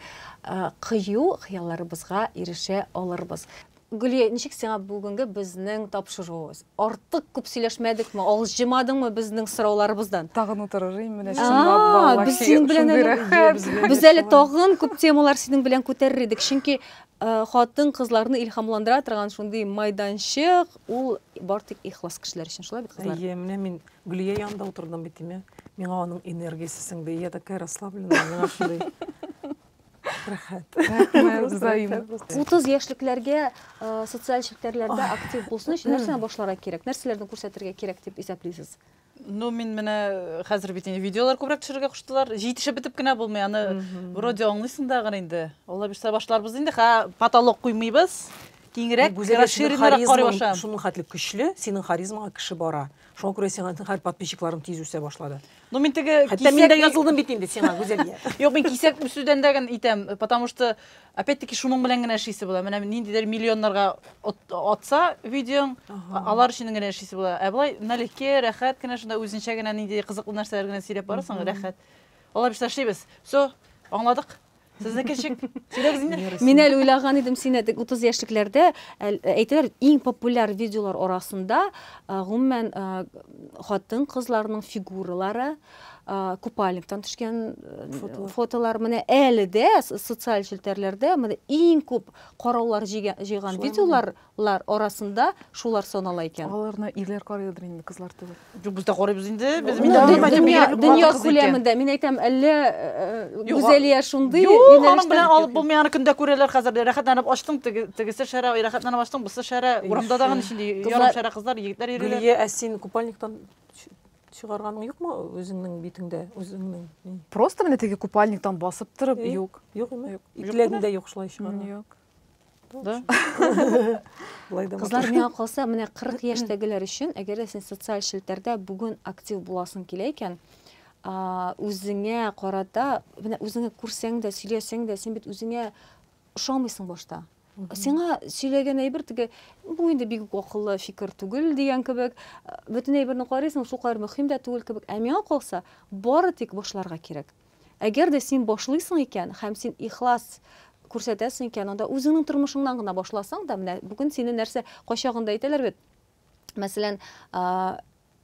кыю хыялларыбызга ирешә алырбыз. Гөлия, ничек сиңа бүгенге безнең тапшыруыбыз? Артык күп сөйләшмәдекме, авыз җымадыңмы безнең сорауларыбыздан? Тагын утырырыйм менә чынлап балалар. Без синең белән әле без әле тагын күп темалар синең белән күтәрер идек, чөнки хатын-кызларны илһамландыра торган шундый майданчык, ул бар тик ихлас кешеләр өчен, шулай бит, кызлар? Әйе, менә мин Гөлия янында утырдым бит, дим я. Миңа аның энергиясе сеңде. Я такая расслабленная, миңа шундый рәхәт. Рәхмәт, Зоим. 30 яшьлекләргә социаль челтәрләрдә актив булсын өчен нәрсәне башларга кирәк? Нәрсәләрне күрсәтергә кирәк дип исәплисез? Ну, мин менә хәзер бит инде видеолар күбрәк төшерергә куштылар. Җитешеп бетеп кенә булмый, аны вроде аңлыйсың да гына инде. Алла бирсә башларбыз инде. Хә, потолок куймыйбыз. Киңрәк, расширеннарак карый башлам. Шуның хәтле көчле, синең харизмага кеше бара. Шуңа күрә сиңа һәр подписчикларым тиз үсә башлады. Ну мин теге Хәтта мин дә язылдым бит инде сиңа, Гүзәлия. Юк, мин кисәк үсүдән дә генә итәм, потому что опять-таки шуның белән генә эшлисе була. Менә ниндидер миллионнарга атса видеоң, алар өчен генә эшлисе була. Ә болай налегке, рәхәт кенә шунда үзенчә генә нинди кызыклы нәрсәләр генә сөйләп барасың, рәхәт. Алар без эшлибез. Все, аңладык. Сезнеке ничек? Сөйләгез инде. Мин әле уйлаган идем, син әдик 30 яшьлекләрдә әйтәләр, иң популяр видеолар арасында гомумән хатын-кызларның фигуралары, купальниктан төшкән э, фотолар менә әле дә социаль челтәрләрдә менә иң күп караулар җыйган видеолар Лар арасында шулар санала икән. Аларны ирләр карыйдыр инде, кызлар түгел. Юк, без дә карыйбыз инде. Без мин дә бәлки бигрәк бик Дөнья хатын-кыз икән. күләмендә, мин әйтәм, әллә Юк, Гүзәлия шундый юнәлештә Юк, аның бит белән алып булмый, аны көн дә күрәләр хәзер дә. Рәхәтләнеп ачтың, теге, тегесе шәрә, ай, рәхәтләнеп ачтың, бусы шәрә. Урамда да гына ничек инде ярым шәрә кызлар, егетләр йөриләр. Гөлия, ә син купальниктан чыгарганың юкмы үзеңнең битеңдә, үзеңнең? Просто менә теге купальниктан басып торып, юк. Юк, юк, икеләгеңдә юк шулай чыгарга. Юк. Да? Былай да. Кызлар миңа калса, менә 40 яшьтәгеләр өчен, әгәр дә син социаль челтәрдә бүген актив буласың килә икән, үзеңә карата, менә үзеңә күрсәң дә, сөйләсәң дә, син бит үзеңә ошамыйсың башта. Сиңа сөйләгән әйбер теге, бу инде бик акыллы фикер түгел дигән кебек, бөтен әйберне карыйсың, шул кадәр мөһим дә түгел кебек. Ә миңа калса, бары тик башларга кирәк. Әгәр дә син башлыйсың икән һәм син ихлас күрсәтәсең икән, анда үзеңнең тормышыңнан гына башласаң да, менә бүген сине нәрсә кайчагында әйтәләр бит, мәсәлән,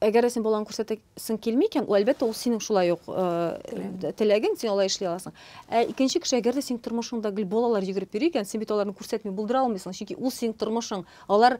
әгәр дә син балаң күрсәтәсең килми икән, әлбәттә, ул синең шулай ук теләгең, син алай эшли аласың. Ә икенче кеше, әгәр дә синең тормышыңда гел балалар йөгереп йөри икән, син бит аларны күрсәтми булдыра алмыйсың, чөнки ул синең тормышың. Алар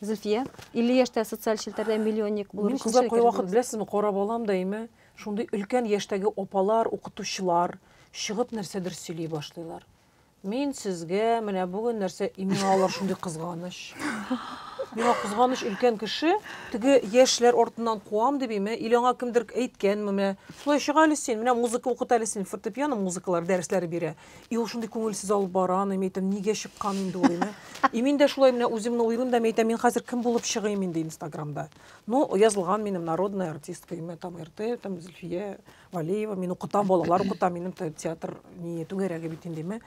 Зөлфия, 50 яшьтә социаль челтәрдә миллионник булыр өчен Кызлар кая вакыт беләсезме, карап алам да име, шундый өлкән яшьтәге апалар, укытучылар чыгып нәрсәдер сөйли башлыйлар. Мин сезгә менә бүген нәрсә имин алар шундый кызганыч. Миңа кызганыч өлкән кеше, теге яшьләр артыннан куам дип име, или аңа кемдер әйткәнме, менә шулай чыга әле син, менә музыка укыта әле син, фортепиано музыкалар дәресләре бирә. И ул шундый күңелсез алып бара аны, мин әйтәм, нигә чыккан инде ул, дим. И мин дә шулай менә үземне уйлыйм да, мин әйтәм, мин хәзер кем булып чыгыйм инде Инстаграмда. Ну, язылган минем народная артистка, имя там РТ, там Зөлфия Валеева, мин укытам, балалар укытам, минем театр не түгәрәге бит инде, дим.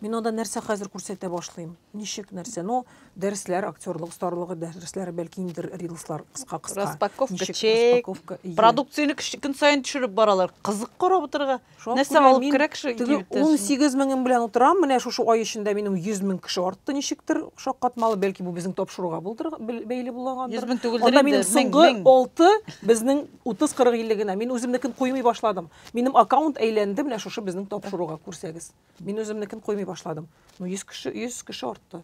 Мин анда нәрсә хәзер күрсәтә башлыйм? Ничек нәрсә? Ну, дәресләр, актерлык остарлыгы дәресләре, бәлки инде рилслар кыска кыска. Распаковка, чек, продукцияне көн саен төшереп баралар. Кызык карап утырырга. Нәрсә алып керә кеше? Теге 18 меңем белән утырам, менә шушы ай эчендә минем 100 мең кеше артты ничектер шаккатмалы, бәлки бу безнең тапшыруга булдыр, бәйле булгандыр. 100 мең түгелдер инде. Анда минем соңгы 6 безнең 30-40 илле генә. Мин үземнекен куймый башладым. Минем аккаунт әйләнде, менә шушы безнең тапшыруга күрсәгез. Мин үземнекен куймый башладым. Ну 100 кеше, 100 кеше артты.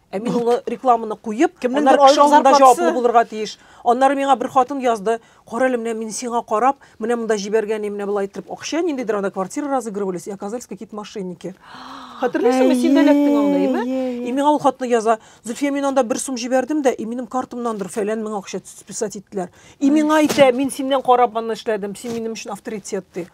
Ә мин ул рекламаны куеп, кемнеңдер кеше алдында җаваплы булырга тиеш. Аннары миңа бер хатын язды, кара әле менә мин сиңа карап, менә монда җибәргән менә болай итеп акча ниндидер анда квартира разыгрывались, и оказались какие-то мошенники. Хәтерлисеңме, син дә эләктең анда, име? И миңа ул хатны яза, Зөлфия, мин анда бер сум җибәрдем дә, и минем картамнандыр фәлән мең акча списать иттеләр. И миңа әйтә, мин синнән карап аны эшләдем, син минем өчен авторитет ди.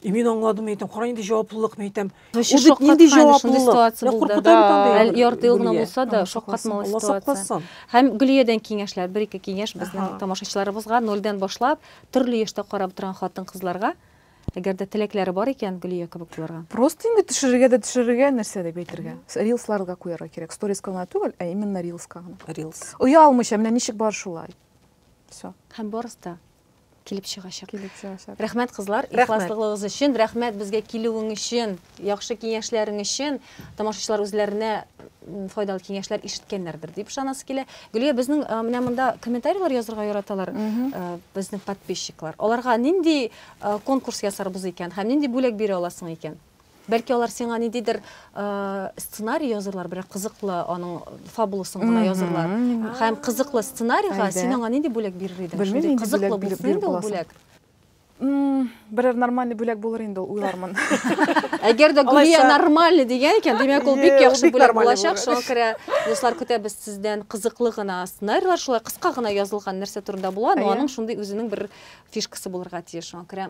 И мин аңладым, әйтәм, кара нинди җаваплылык, әйтәм. Вообще Ул бит нинди шаккаткан шундый җаваплылык. ситуация Мә булды. куркыта бит Да. андый Әл- бер ярты ел гына Гөлия. булса да, Алла шаккатмалы сакласын, Алла ситуация. сакласын. Һәм Гөлиядән киңәшләр, бер-ике киңәш безнең Аһа. тамашачыларыбызга, нольдән башлап, төрле яшьтә карап торган хатын-кызларга, әгәр дә теләкләре бар икән, Гөлия кебек булырга. Просто инде төшерергә дә төшерергә, нәрсә дип әйтергә. Рилсларга куярга кирәк. Сториска гына түгел, ә именно рилска гына. Рилс. Оялмыйча, менә ничек бар шулай. Все. Һәм барысы да килеп чыгачак. Килеп чыгачак. Рәхмәт кызлар, ихласлыгыгыз өчен, рәхмәт безгә килүең өчен, яхшы киңәшләрең өчен. Тамашачылар үзләренә файдалы киңәшләр ишеткәннәрдер дип ышанасы килә. Гөлия, безнең менә монда комментарийлар язырга яраталар безнең подписчиклар. Аларга нинди конкурс ясарбыз икән һәм нинди бүләк бирә аласың икән? Бәлки алар сиңа ниндидер сценарий язырлар, берәр кызыклы аның фабуласын гына язырлар. Һәм кызыклы сценарийга син аңа нинди бүләк бирер идең? Шундый кызыклы булсын инде ул бүләк. Берәр нормальный бүләк булыр инде ул, уйлармын. Әгәр дә Гүлия нормальный дигән икән, димәк, ул бик яхшы бүләк булачак. Шуңа күрә, дуслар, көтәбез сездән кызыклы гына сценарийлар, шулай кыска гына язылган нәрсә турында була, но аның шундый үзенең бер фишкасы булырга тиеш. Шуңа күрә.